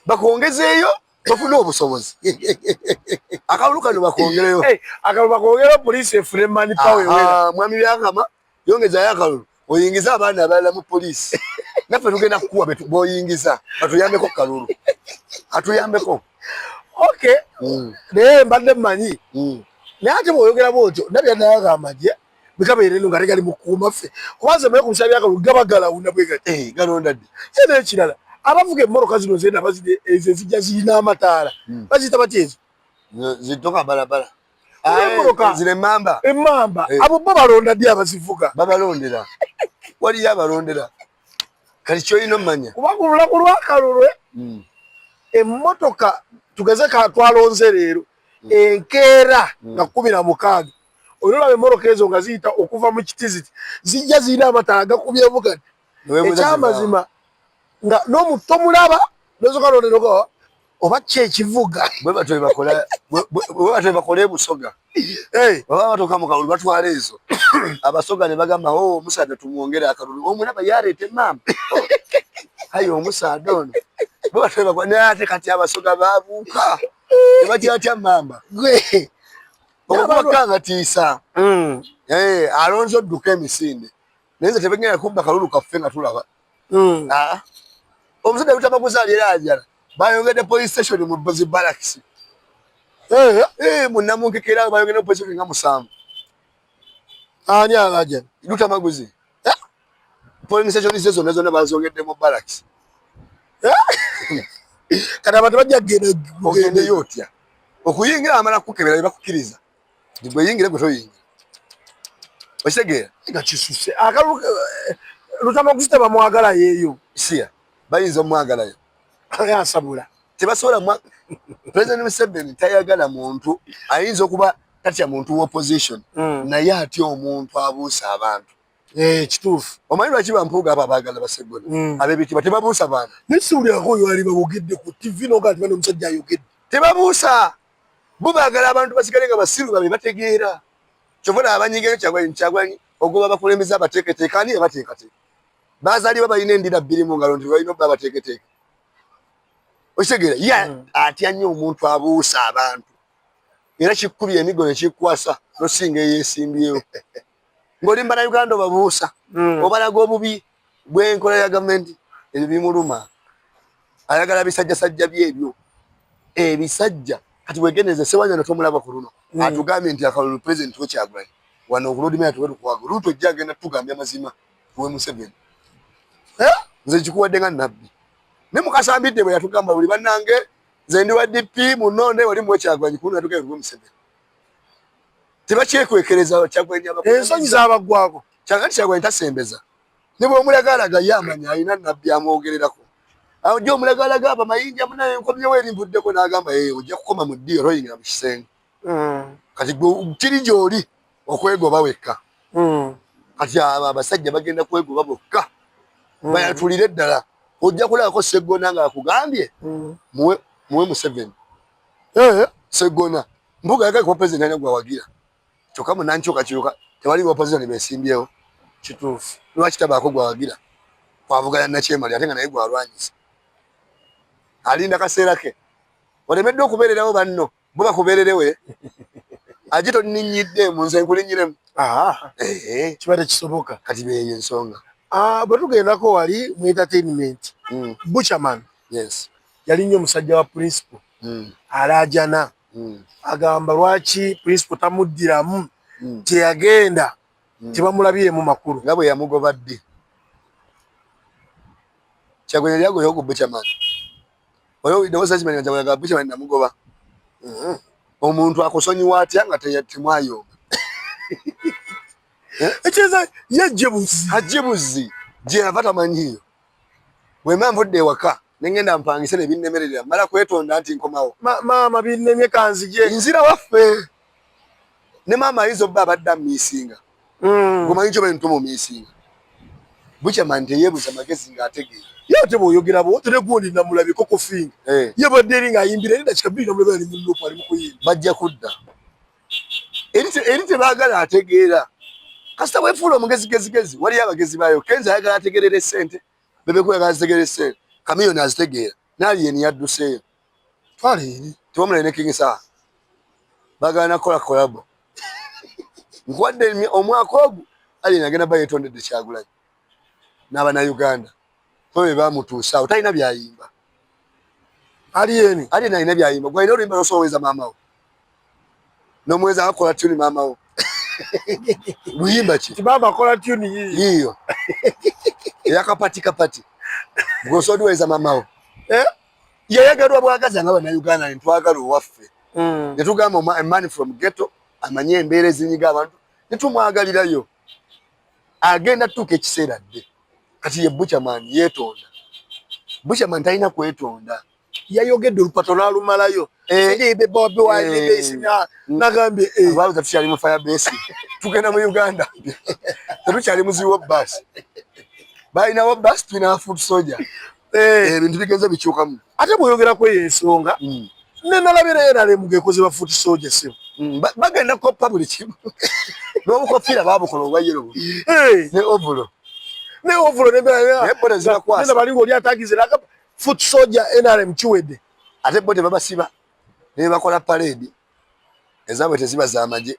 bakongezeeyo bafune obusobozi akalulu kano bakongereyo akalulu bakongereyo poliisi efune mani pawe mwami byakama Yongeza yakalulu oyingiza abaana abalala mu poliisi naffe tugenda kukuwa boyingiza batuyambeko kalulu atuyambeko ok mm. naye mbadde mmanyi mm. naye ate bwoyogera bwotyo nabya nayaga amagye bikabeere no nga tegali mukuuma ffe kubanze maye kumusala byakalulu gaba galawuna bwegati eh, galonda ddi ye nekirala abavuga emmoroka zino zena ezijja zirina amataala mm. baziyita batya ezo zitoka balabala emmotoka zino emmamba emmamba eh. abo bo balonda ddi abazivuga babalondera waliyo abalondera kati kyolina omumanya kuba ku lunaku lwakalulwe hmm. emmotoka tugeze katwalonze leero hmm. enkeera hmm. nga kumi na mukaaga olina olaba emmotoka ezo nga ziyita okuva mu kitiziti zijja zirina amatala gakubyemu kati ekyamazima nga nomutomulaba nozoka londera oba ki ekivuga bwe batyo bebakola bwe batyo bebakola ebusoga baba batuuka mu kalulu batwala ezo abasoga ne bagamba o oh, omusaadha tumwongere akalulu omulaba yareeta emaama ayi omusaadha ono bwe batyo bebakola naye ate kati abasoga babuuka tebakyatya mamba gwe okubakangatiisa mm. alonze odduka emisinde naye nze tebegenda kubba kalulu kaffe nga tulaba hmm. ah. omusajja lutama kuzaalira ajala bayongedde police station mu bozi balakisi eh, eh, munamunkekera bayongedde police station nga musanvu ani alaja lutamaguzi eh? police station ze zonna zonna bazongedde mu balakisi kati abantu bajja kugenda ogendeyo otya okuyingira amala kukebera ne bakukiriza gwe yingire gwe toyingira okitegeera nga kisuse akalu eh, lutama kusita bamwagala yeeyo siya bayinza omwagalayo asabula tebasobola mwa president museveni tayagala muntu ayinza okuba tatya muntu wa opposition mm. naye atya omuntu abuusa abantu eh, kituufu omanyi lwaki bampuuga abo abaagala basegoni mm. abebitiba tebabuusa bantu naye siwulirako oyo ali bawogedde ku tv nogaa ti bana omusajja ayogedde tebabuusa bo bagala abantu basigale nga basiru babe bategeera kyova na abanyigeyo kyagwanyi kyagwanyi ogoba bakulembeza abateeketeeka ani yabateekateeka bazaliwa balina endira bbiri mu ngalo nti balina obba abateeketeeka okitegeera ye hmm. atya nnyo omuntu abuusa abantu era kikkubya emigo nekikkwasa nosinga eyesimbyewo ng'olimba na uganda obabuusa hmm. obalaga obubi bw'enkola ya gavumenti ebyo bimuluma ayagala bisajjasajja byebyo ebisajja kati wegendereze sewanyana tomulaba ku luno hmm. atugambye nti akalulu pulezidenti wekyagulanyi wano okulodimaya tuwetukwaga oluuti ojja agenda tugambye amazima we museveni eh? nze kikuwadde nga nabbi ne mukasambidde bwe yatugamba buli bannange nze ndi wa dp munonde wali muwekyagulanyi kuno yatugaye kuwe museveni tebakyekwekereza kyagulanyi ensonyi zabaggwako kyagati kyagulanyi tasembeza ne bwomulagaalaga ye amanya alina nabbi amwogererako aja omulagaalaga aba mayinja munaye nkomyewo eri mbuddeko n'agamba ye ojja kukoma mu ddi oroyingira mu kisenge hmm. kati kiri gyoli okwegoba wekka hmm. kati abo abasajja bagenda kwegoba bokka hmm. bayatulire ddala ojja kulabako seggona nga akugambye muwe museveni eh. seggona Mbuga yagala kuba president alina gwawagira kyokka mu nankyukakyuka tewali ba opposition besimbyewo kituufu lwaki tabaako gwawagira kwavuganya nakyemali ate nga naye gwalwanyisa alinda kaseera ke olemeddwa okubeererawo banno bo bakubeererewe aje tonninyidde mu nze nkulinyiremu kibadde kisoboka kati beeyo ensonga ah, bwe tugendako wali mu entertainment hmm. buchaman yes yali nnyo musajja wa principal mm. alaajana mm. agamba lwaki principal tamuddiramu mm. teyagenda mm. tebamulabyemu makulu nga bwe yamugoba ddi kyagwenya lyagoyo ku buchaman oyo newosakimanya kyagwenya buchaman namugoba mm-hmm. omuntu akusonyiwa atya nga temwayomba ekyeza ye jebuzi ajebuzi gyeyava tamanyiyo Bwemba nvudde ewaka nengenda mpangise nebinnemerera mala kwetonda nti nkomawo. Ma, maama binnemye kanzije. Nzira waffe ne maama ayinza obba abadde amiisinga mm. gomanyi kyoba ntuma omiisinga bukya mani teyebuza magezi ng'ategeera ye ate bwoyogera bo tere gundi namulabi koko finga eh. ye badde eri ng'ayimbira eri dakika bbiri namulabi ali mu lupu ali mu kuyimba bajja kudda eri tebagala ategeera kasita wefuula omugezigezigezi waliyo abagezi bayo kenza ayagala ategerera esente bebekweyagala zitegerera esente kamiyoni azitegeera naali yeni yadduseeyo twala eri tewamulayo ne kingi saha bagala nakukola kolabo nkuwadde omwaka ogu aliyeni agenda ba yetondedde kyagulanyi n'abanauganda oyo bebamutuusaawo talina byayimba Alien, Alien alina byayimba. Gwa ino rimba so weza mama wo. No mweza akola tune mama wo. Muyimba ki? Ti baba akola tune yiyo. Yiyo. Yakapati kapati. Gwa so weza mama wo. Eh? Yayagadwa bwagaza ngaba na Uganda ni twagala waffe. Mm. Netugamba a man from ghetto amanye embeere zinyiga abantu. Netumwagalira yo. agenda tuuka ekiseera dde kati ye buchaman yetonda buchaman talina kwetonda yayogedde olupato nalumalayo nagambyetukyali mufayabesi tugenda mu uganda tetukyali muziwo bas balinawo bas tulina food soja eh. eh, ebintu bigenze bikyukamu ate bweyogera kweyo ensonga mm. nenalabira era lemugekoze bafuti soja sebo mm, bagenda koppa buli kimu nobukofiira babukola obwayero eh. ne ovulo ne ovulo nebona balinga oli atagize naga foot soja nrm kiwedde ate bo tebabasiba nebakola paredi ezabwe teziba zamaje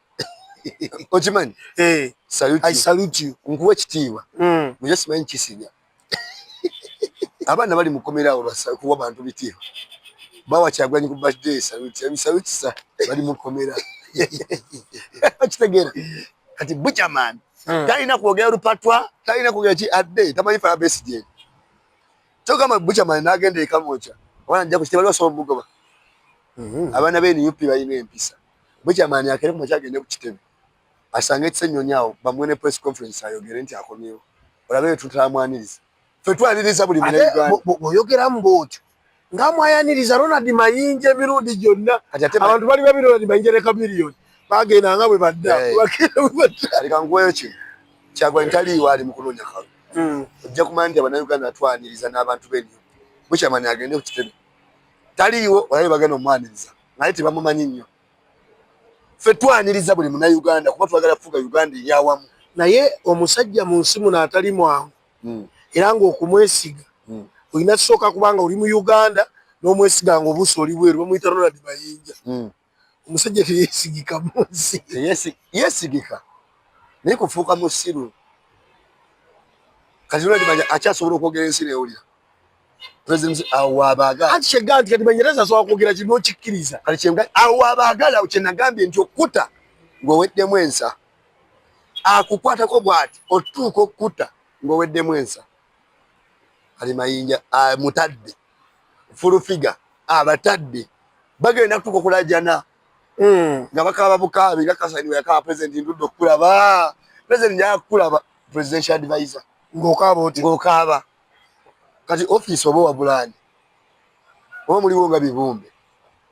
okimanyi eh. nkuwa ekitiibwa hmm. naye simanyi kisinya abaana bali mukomera awo kuwa bantu bitiibwa bawa kyagulanyi ku birthday saluti emisabikisa bali mukomera okitegeera kati buchaman hmm. talina kwogera lupatwa talina kwogera ki adde tamanyi fala besigye kyogamba buchaman nagenda ekamoca abaana njakukitabaliwasobola omugoba hmm. abaana benup balina empisa Bukyamani akere ku makya agende ku kitebe asange Kisennyonyi awo bamuwe ne press conference ayogere nti akomyewo olabe bye tutamwaniriza ffe twaniriza buli bwoyogeramu bwotyo nga mwayaniriza Ronald Mayinja emirundi gyonna abantu bali babi Ronald Mayinja ne Chameleone bagenda nga bwe badda leka nkuweyo kino Kyagulanyi taliiwo ali mu kunoonya kalu hmm. ojja kumanya nti abannayuganda atwaniriza n'abantu b'enyo Bukyamani agende ku kitebe taliiwo olabe bagenda omwaniriza naye tebamumanyi nnyo ffe twaniriza buli munauganda kuba twagala kufuga uganda eryawamu naye omusajja mu nsi muno atali mwangu hmm. era ngaokumwesiga hmm. olina kisooka kubanga oli mu uganda n'omwesiga nga obuusi oli bweru bamuyita ronald mayinja hmm. omusajja teyesigika mu nsi yesigika naye kufuuka musiru kati ronald mayinja akyasobola okwogera ensi newulira president awo abagala ati kyeganti kati banyereza asobola kwogera kino okikkiriza kati kyenga awo abagala kye nagambye nti okkuta ng'oweddemu ensa akukwatako bwati otuuka okkuta ng'oweddemu ensa kati mayinja mutadde fulufiga abatadde bagenda kutuuka okulajana hmm. nga bakaaba bukaabi nga kasani weyakaaba president ndudde okukulaba president njaga kukulaba presidential advisor ng'okaaba oti ng'okaaba kati office oba wabulani oba muliwo nga bibumbe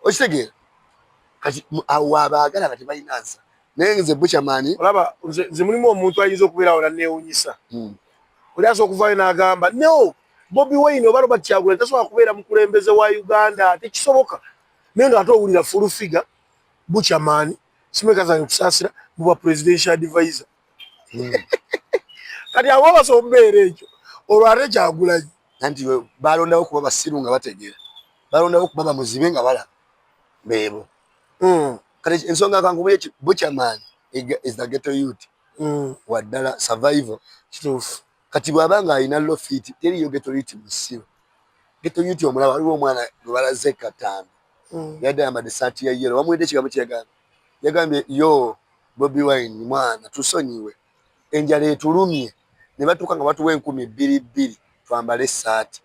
okitegeera kati awo abaagala nga tebalina nsa naye nze buchamani olaba nze mulimu omuntu ayinza okubeerawo nanneewunyisa hmm. oli asobola okuvaayo n'agamba no bobi wayne oba robert kyagula tasobola kubeera mukulembeze wa uganda tekisoboka naye nga ate owulira fulufiga buchamani simekazange okusaasira mu bwa presidential advisor hmm. kati abo basobola okubeera ekyo olwo ate kyagulanyi nanti balondawo kuba basiru nga bategeera balondawo kuba bamuzibe nga balaba beebo hmm. kati ensonga kankubuye buchaman is the ghetto youth hmm. waddala survival kituufu kati bwaba nga alina lofit teriyo ghetto youth musiru ghetto youth omulaba waliwo omwana gwebalaze katambi yadde ayambadde esaati ya yero bamuwedde ekigambo kyeyagamba yagambye yo bobi wine mwana tusonyiwe enjala etulumye ne batuuka nga batuwa enkumi bbiri bbiri twambale essaati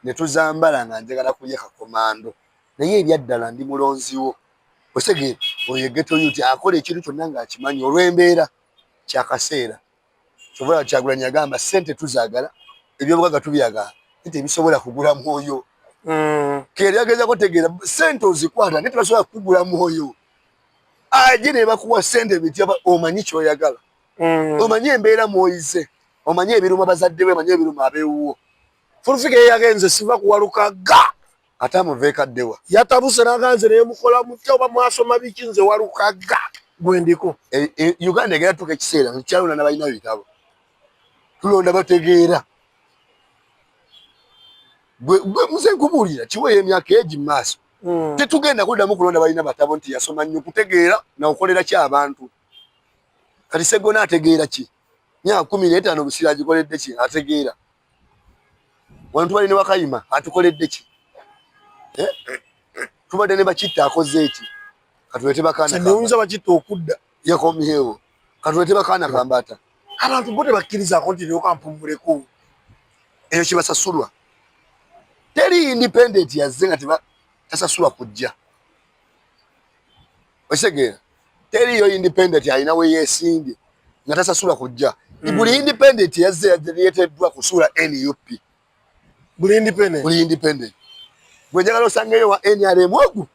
ne tuzambala nga njagala kulya kakomando naye ebyaddala ndi mulonziwo osege oyo egeto yuti akola ekintu kyonna ng'akimanyi olw'embeera kyakaseera Kyobola Kyagulanyi yagamba sente tuzagala ebyobugaga tubyagala nti ebisobola kugula mwoyo mm. keyagezako tegeera sente ozikwata naye tebasobola kugula mwoyo aje nebakuwa sente bitya omanyi kyoyagala mm. omanyi embeera mwoyize omanyi ebiruma bazadde be omanyi ebiruma abewuwo fulfika eyagenze siva kuwalukaga ate amuveeko addewa yatabuse naganze nemukola mutya oba mwasoma biki nze walukaga gwendiko e, e, uganda egera tuka ekiseera nkyalonda nabalina bitabo tulonda bategeera muze nkubuulira kiweeyo emyaka egi mumaaso hmm. tetugenda kuddamu kulonda balina batabo nti yasoma nnyo kutegeera nakukolera ki abantu kati segona ategeera ki myaka kumi netaano busiraagikoledde ki ategeera wano tubadde ne wakayima atukoledde ki eh? tubadde ne bakitta akoze eki katulete bakaananewunza bakitta okudda yakomyewo katulete bakaana kambaata abantu bo tebakkirizako nti neokampumuleko eyo kibasasulwa teri independent yazze nga tasasulwa kujja okitegera teriyo independent alina we yesimbye nga tasasula kujja mm. buli independent yazze yadeyeteddwa kusuula nup buli independent buli independent gwe njagala osangeyo wa nrm ogu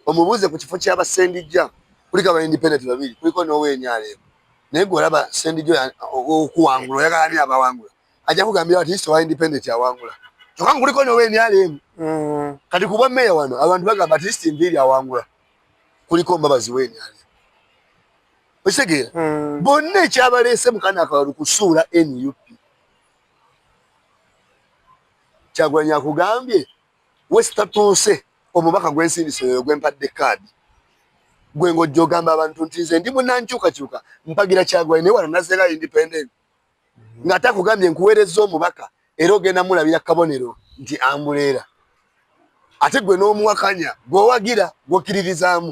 omubuuze ku kifo kyaba sendijja kuliko aba independent babiri kuliko nowa nrm naye gwe olaba sendijjo okuwangula oyagala ani abawangula ajja kugambira ati isowa independent awangula kyokka nkuliko nowa nrm mm. kati kubwa meya wano abantu bagamba ati isti nviiri awangula kuliko mbabazi weni ali okitegeera hmm. bonna ekyabaleese mukana akabalu kusuula nup kyagulanya akugambye wesitatuuse omubaka gwensindise oyo gwempadde kaadi gwe ng'ojja ogamba abantu nti nze ndi munankyukakyuka mpagira kyagulanya naye wano nazera independent nga takugambye nkuweerezza omubaka era ogenda mulabira kabonero nti ambuleera ate gwe n'omuwakanya gweowagira gwokkiririzaamu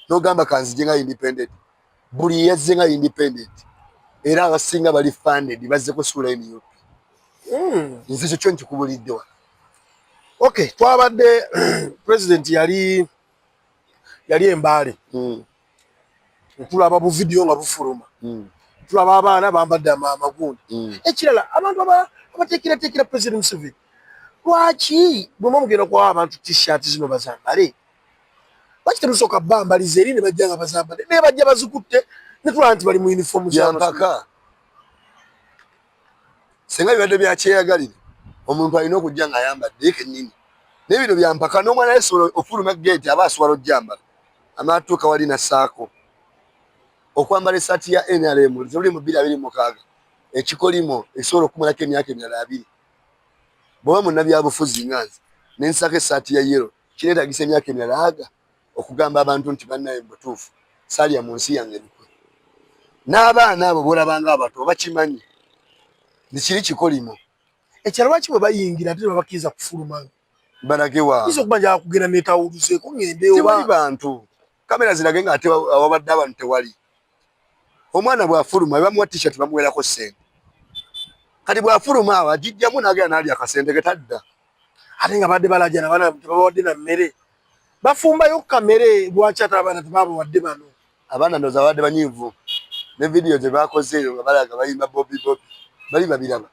n'ogamba kanzije nga independent buli yazze nga independent era abasinga bali funded bazze kusuula nup hmm. nze ekyo kyo nkikubulidde wa ok twabadde president yali yali embaale hmm. tulaba bu video nga bufuluma mm. tulaba abaana bambadde amagundi mm. ekirala abantu abateekerateekera president museveni lwaki bwema mugenda kuwa abantu t-shirt zino bazambale lwaki temusooka bambaliza eri ne bajja nga bazambale naye bajja bazikutte netulaba nti bali mu uniform zampaka senga bibadde byakyeyagalire omuntu alina okujja nga ayambadde kenyini naye bino byampaka n'omwana yesobola ofuluma geeti aba asobola ojjambala anaatuuka wali nassaako okwambala essaati ya nrm ziruli mu bbiri abiri mukaaga ekikolimo ekisobola okumalako emyaka emirala abiri bwoba munnabyabufuzi nga nze ne nsaako essaati ya yero kineetagisa emyaka emirala aga okugamba abantu nti bannaye mu butuufu salya mu nsi yange lukwe n'abaana abo boolabanga abato bakimanyi nti kiri kikolimo ekirala lwaki bwe bayingira ate babakkiriza kufulumanga balage wa izo kuba ja kugera ne tawuluze ko ngende oba tewali bantu kamera zirage nga ate awabadde abantu tewali omwana bwafuluma bamuwa t-shirt bamuwerako sente kati bwafuluma awo ajijjamu nagera nali akasente ke tadda ate nga badde balajana bana tebabawadde na mmere bafumbayo kamere lwaki ate abaana tebabawadde bano Abaana ndoza babadde banyiivu ne vidiyo ze baakoze eyo nga balaga bayimba bobi bobi bali babiraba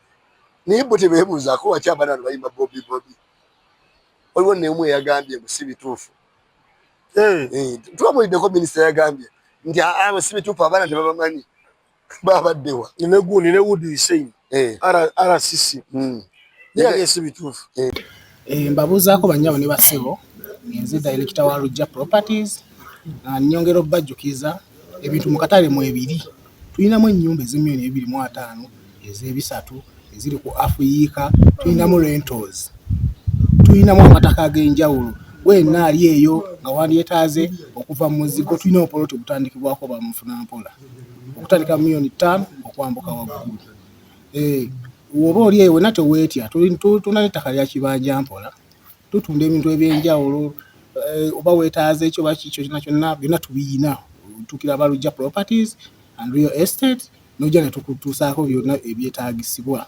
naye bo tebeebuuzaako waki abaana bano bayimba bobi bobi. Waliwo neemu eyagambye mbu si bituufu eh. eh, tubabuliddeko minisita yagambye nti ah, ah, si bituufu abaana tebabamanyi baba dewa ne gundi ne would you say eh ara ara sisi mm ya gesi bitufu eh, eh mbabuza ko banyabo ne basebo nze director wa Rujja properties na nyongero bajukiza ebintu mukatale mu ebiri tulinamu ennyumba ez'emiliyoni ebiri mu ataano ez'ebisatu eziri ku afuyiika tulinamu rentals tulinamu amataka ag'enjawulo wena ali eyo nga wandyeetaaze okuva mu muzigo tulina obupoloti obutandikibwako bamufuna mpola okutandika million ttaano okwambuka waggulu eh, oba oli eyo wena teweetya tulina n'ettaka lya kibanja mpola tutunda ebintu ebyenjawulo eh, oba weetaaza ekyo oba kikyo kyona kyonna byonna tubiyina tukira balujja properties and real estate nojja ne tukutuusaako byonna ebyetaagisibwa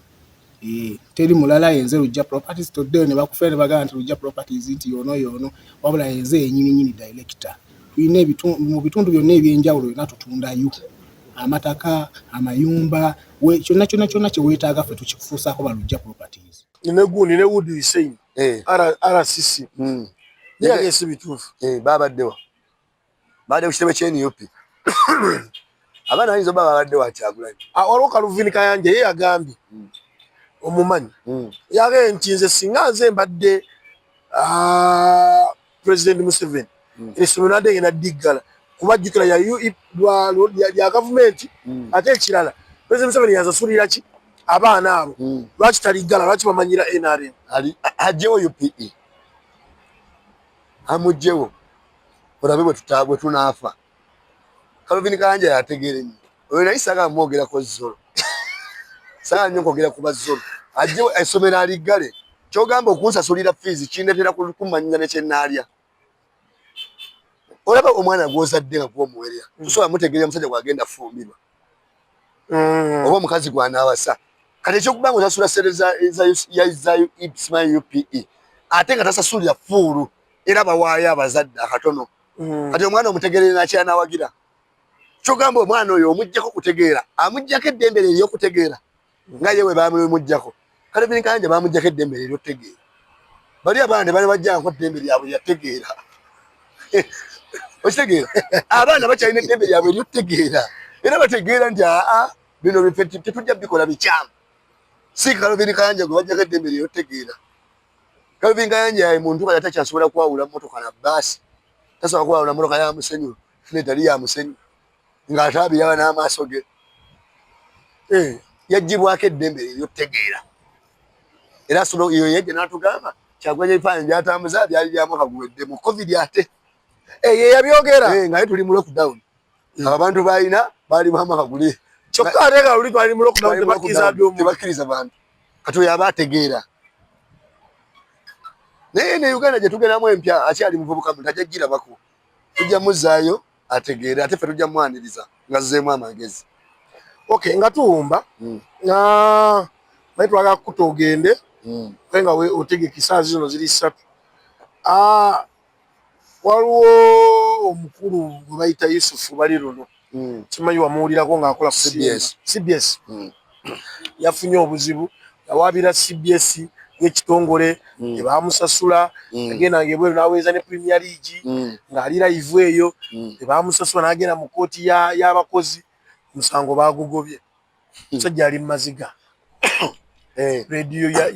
Eh, teri mulala yenze lujja properties today ne bakufera ne bagana nti lujja properties nti yono yono wabula yenze yenyini nyini director tulina ebitundu mu bitundu byonna ebyenjawulo yona tutundayo amataka amayumba kyonna kyonna kyonna kye weetaaga ffe tukifuusaako ba lujja properties ne gundi ne wood hussein eh. rcc hmm. yagese bituufu eh, babaddewa baade ku kitebe kyenup abaana bayinza oba babadde wakyagulanyi ah, waliwo kaluvini kayanja ye yagambye hmm. omumanyi hmm. yagee nti nze singa nze mbadde ah, president museveni hmm. esomero nadde ngenda diggala kuba jjukira ya gavumenti ate ekirala president museveni yasasulira ki abaana abo lwaki taliggala lwaki bamanyira nrm ajewo upe amugjewo olabe bwe tunaafa kalvin kayanja yategeere nyo oyo naye saga amwogerako zolo saga nyo kwogera ku bazolo ajje esomero aliggale kyogamba okunsasulira fiizi kindetera kumanyinya nekyenaalya olaba omwana gwozadde nga gwomuwerera mm. tusobola mutegeera omusajja gwagenda fumbirwa mm. oba omukazi gwanaawasa kati ekyokuba nga osasula sente za upe ate nga tasasulira fuulu era bawaayo abazadde akatono mm. kati omwana omutegerere nakyanawagira kyogamba omwana oyo omujjako kutegeera amujjako eddembe lye eryokutegeera mm. nga yewe bamumujjako kale binkanja bamujjako eddembe lye eryokutegeera bali abaana ne bali bajjanko eddembe lyabwe lyategeera okitegeera abaana bakyalina eddembe lyabwe eryokutegeera era bategeera nti aa bino tetujja bikola bikyamu siikalo binkanja gwe bajjako eddembe lye eryokutegeera Calvin Kayanja yayi muntu kala takyasobola kwawula mmotoka na bbaasi, tasobola kwawula mmotoka ya musenyu n'etali ya musenyu ng'ataabiraba n'amaaso ge. Eh, yaggyibwako eddembe ery'okutegeera era sono eyo yajja n'atugamba Kyagulanyi ebifaananyi byatambuza byali bya mwaka guwedde mu covid ate eh, ye yabyogera eh, nga ye tuli mu lockdown hmm. abantu baalina baali ba mwaka guli kyokka ate nga luli twali mu lockdown tebakkiriza bantu kati oyo aba ategeera naye ne uganda gye tugeramu empya akyali muvubuka muntu ajja girabako tujja muzaayo ategeere ate ffe tujja mwaniriza nga zzeemu amagezi ok nga tuwumba hmm. nga naye twagala kukuta ogende hmm. aye nga otegeka esaazi zino ziri ssatu ah, waliwo omukulu gwe bayita yusufu bali luno hmm. kimanyi wamuwulirako ng'akola cbs hmm. yafunye obuzibu yawaabira cbs ng'ekitongole hmm. tebamusasula yagenda ngaebweru n'aweereza ne premier league ng'ali layivu eyo tebamusasula n'agenda mu kkooti y'abakozi omusango baagugobye musajja ali mumaziga eh. rediyo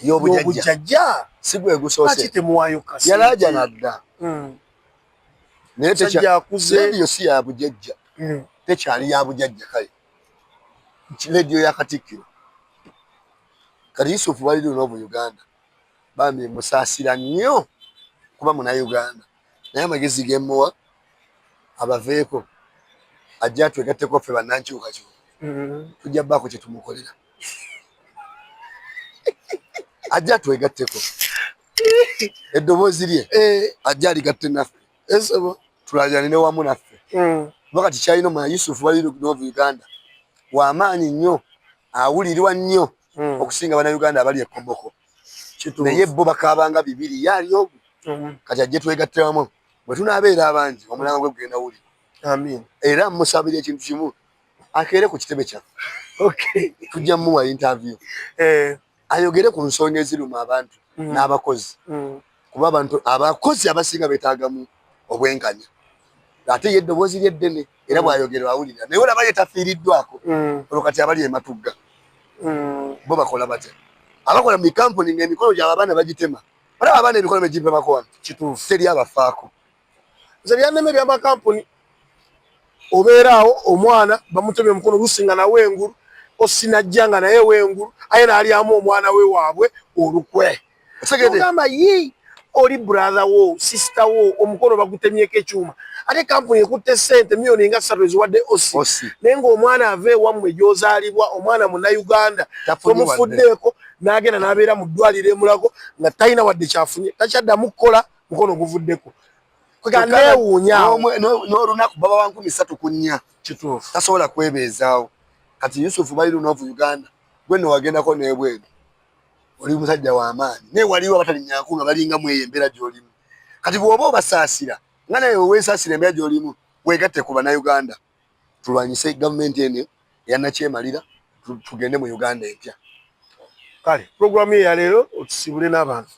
yobujajja sigwegusoosi temuwayo kasi yalaja nadda hmm. naye rediyo si yabujajja hmm. tekyali yabujajja kale rediyo yakatikkiro kati yusufu bali luno mu uganda bambi musasira nnyo kuba muna uganda naye amagezi gemuwa abaveeko ajja twegatteko ffe bannankyukakyuka mm-hmm. tujja baako kyetumukolera ajja twegatteko eddoboozi lye eh. ajja aligatte naffe esobo tulajanine wamu naffe mm. kuba kati kyalina omwana yusufu balirinova uganda wamaanyi nnyo awulirwa nnyo mm. okusinga bana uganda abali ekoboko naye bo bakaabanga bibiri ye ali omu mm-hmm. kati ajje twegatte wamu bwe tunaabeera abangi omulango gwe gugenda wuli era musabira ekintu kimu akeere ku kitebe kyaffe tujja mumuwa interview eh. ayogere ku nsonga eziruma abantu mm-hmm. n'abakozi mm-hmm. kuba abantu abakozi abasinga betagamu obwenkanya ate ye eddoboozi lye ddene era mm. bwayogera awulira naye olaba ye tafiiriddwako mm. olwo kati abali ematugga mm. bo bakola batya abakola mu kampuni ngaemikolo gyaba abaana bagitema olaba abaana emikolo begipemako wano kituufu teri abafaako nze byannema ebyamakampuni obeeraawo omwana bamutemye omukono olusi nga nawe engulu osinajja nga naye wengulu aye nalyamu omwana we waabwe olukwe ogamba yi oli brother wo sister wo omukono bagutemyeko ekyuma ate kampuni ekutte sente miyoni nga ssatu eziwadde osi naye ngaomwana ava ewammwe gyozaalibwa omwana munauganda omufuddeeko n'agenda n'abeera mu ddwaliro emulago nga talina wadde kyafunye takyaddamu kukola mukono guvuddeko nolunaku baba wankumi satu ku nnya tasobola kwebeezaawo kati yusufu bali lunavu uganda gweno wagendako nebweru oli musajja wamaanyi naye waliwo abatalinyako nga balinga mweyo embeera gyolimu kati bwoba obasaasira nga naye wewesasira embeera gyolimu wegatte ku banauganda tulwanyise gavumenti eno yanakyemalira tugende mu uganda empya kale pulogulaamu ye yaleero otusibule n'abantu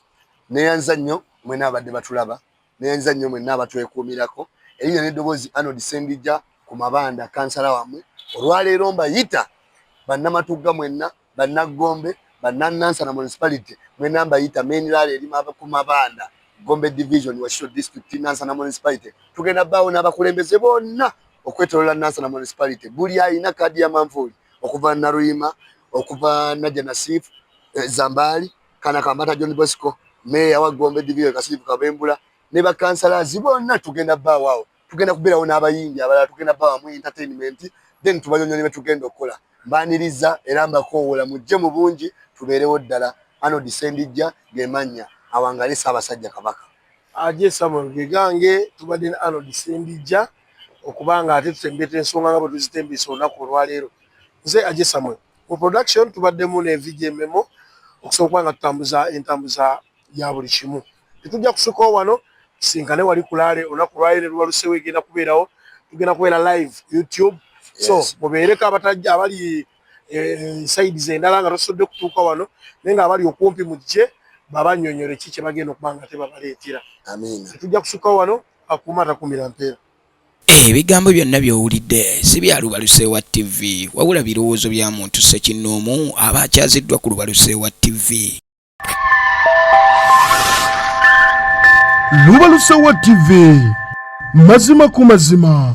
neyanza nnyo mwena abadde batulaba neyanza nnyo mwenna abatwekuumirako erinya n'eddoboozi anod sendija ku mabanda kansala wamwe olwaleero mbayita bannamatugga mwenna Bannaggombe, Bannannansana Municipality, mwena mbayita Meeniraala erima ku mabanda, Gombe Division, Wakiso District, Nansana Municipality. Tugenda baawo n'abakulembeze bonna okwetolola Nansana Municipality. Buli alina kaadi ya manvuuli okuva Naluyima, okuva Najja Nasif, eh, Zambaali, Kana Kambata John Bosco, Meeya wa Gombe Division Kasiifu Kabembula ne bakansalazi bonna tugenda baawo awo. tugenda kubeerawo n'abayimbi abalala tugenda bawamu entertainment then tubanyonyole betugenda okukola mbaniriza era mbakoowola mujje mu bungi tubeerewo ddala ano disendijja gemannya awangale ssaabasajja kabaka aje samuel gegange tubadde ne ano disendijja okuba nga ate tutembeeta ensonga nga bwe tuzitembeesa olunaku olwaleero nze aje samuel mu production tubaddemu ne vijememo okusobola okuba nga tutambuza entambuza ya buli kimu. Tetujja kusukao wano, tusinkane wali kulaale olunaku lwayo ne lubalusewo egenda kubeerawo, tugenda kubeera live YouTube. So mubeereko abatajja abali eh, side zendala nga tosodde kutuuka wano naye nga abali okumpi mujje babanyonyole ki kye bagenda okuba nga tebabaleetera. Tetujja kusukao wano, akuuma atakuumira mpeera. Ebigambo byonna by'owulidde si bya Lubaluseewa TV wabula birowoozo bya muntu ssekinnoomu aba akyaziddwa ku Lubaluseewa TV. lubalusewa tv mazima ku mazima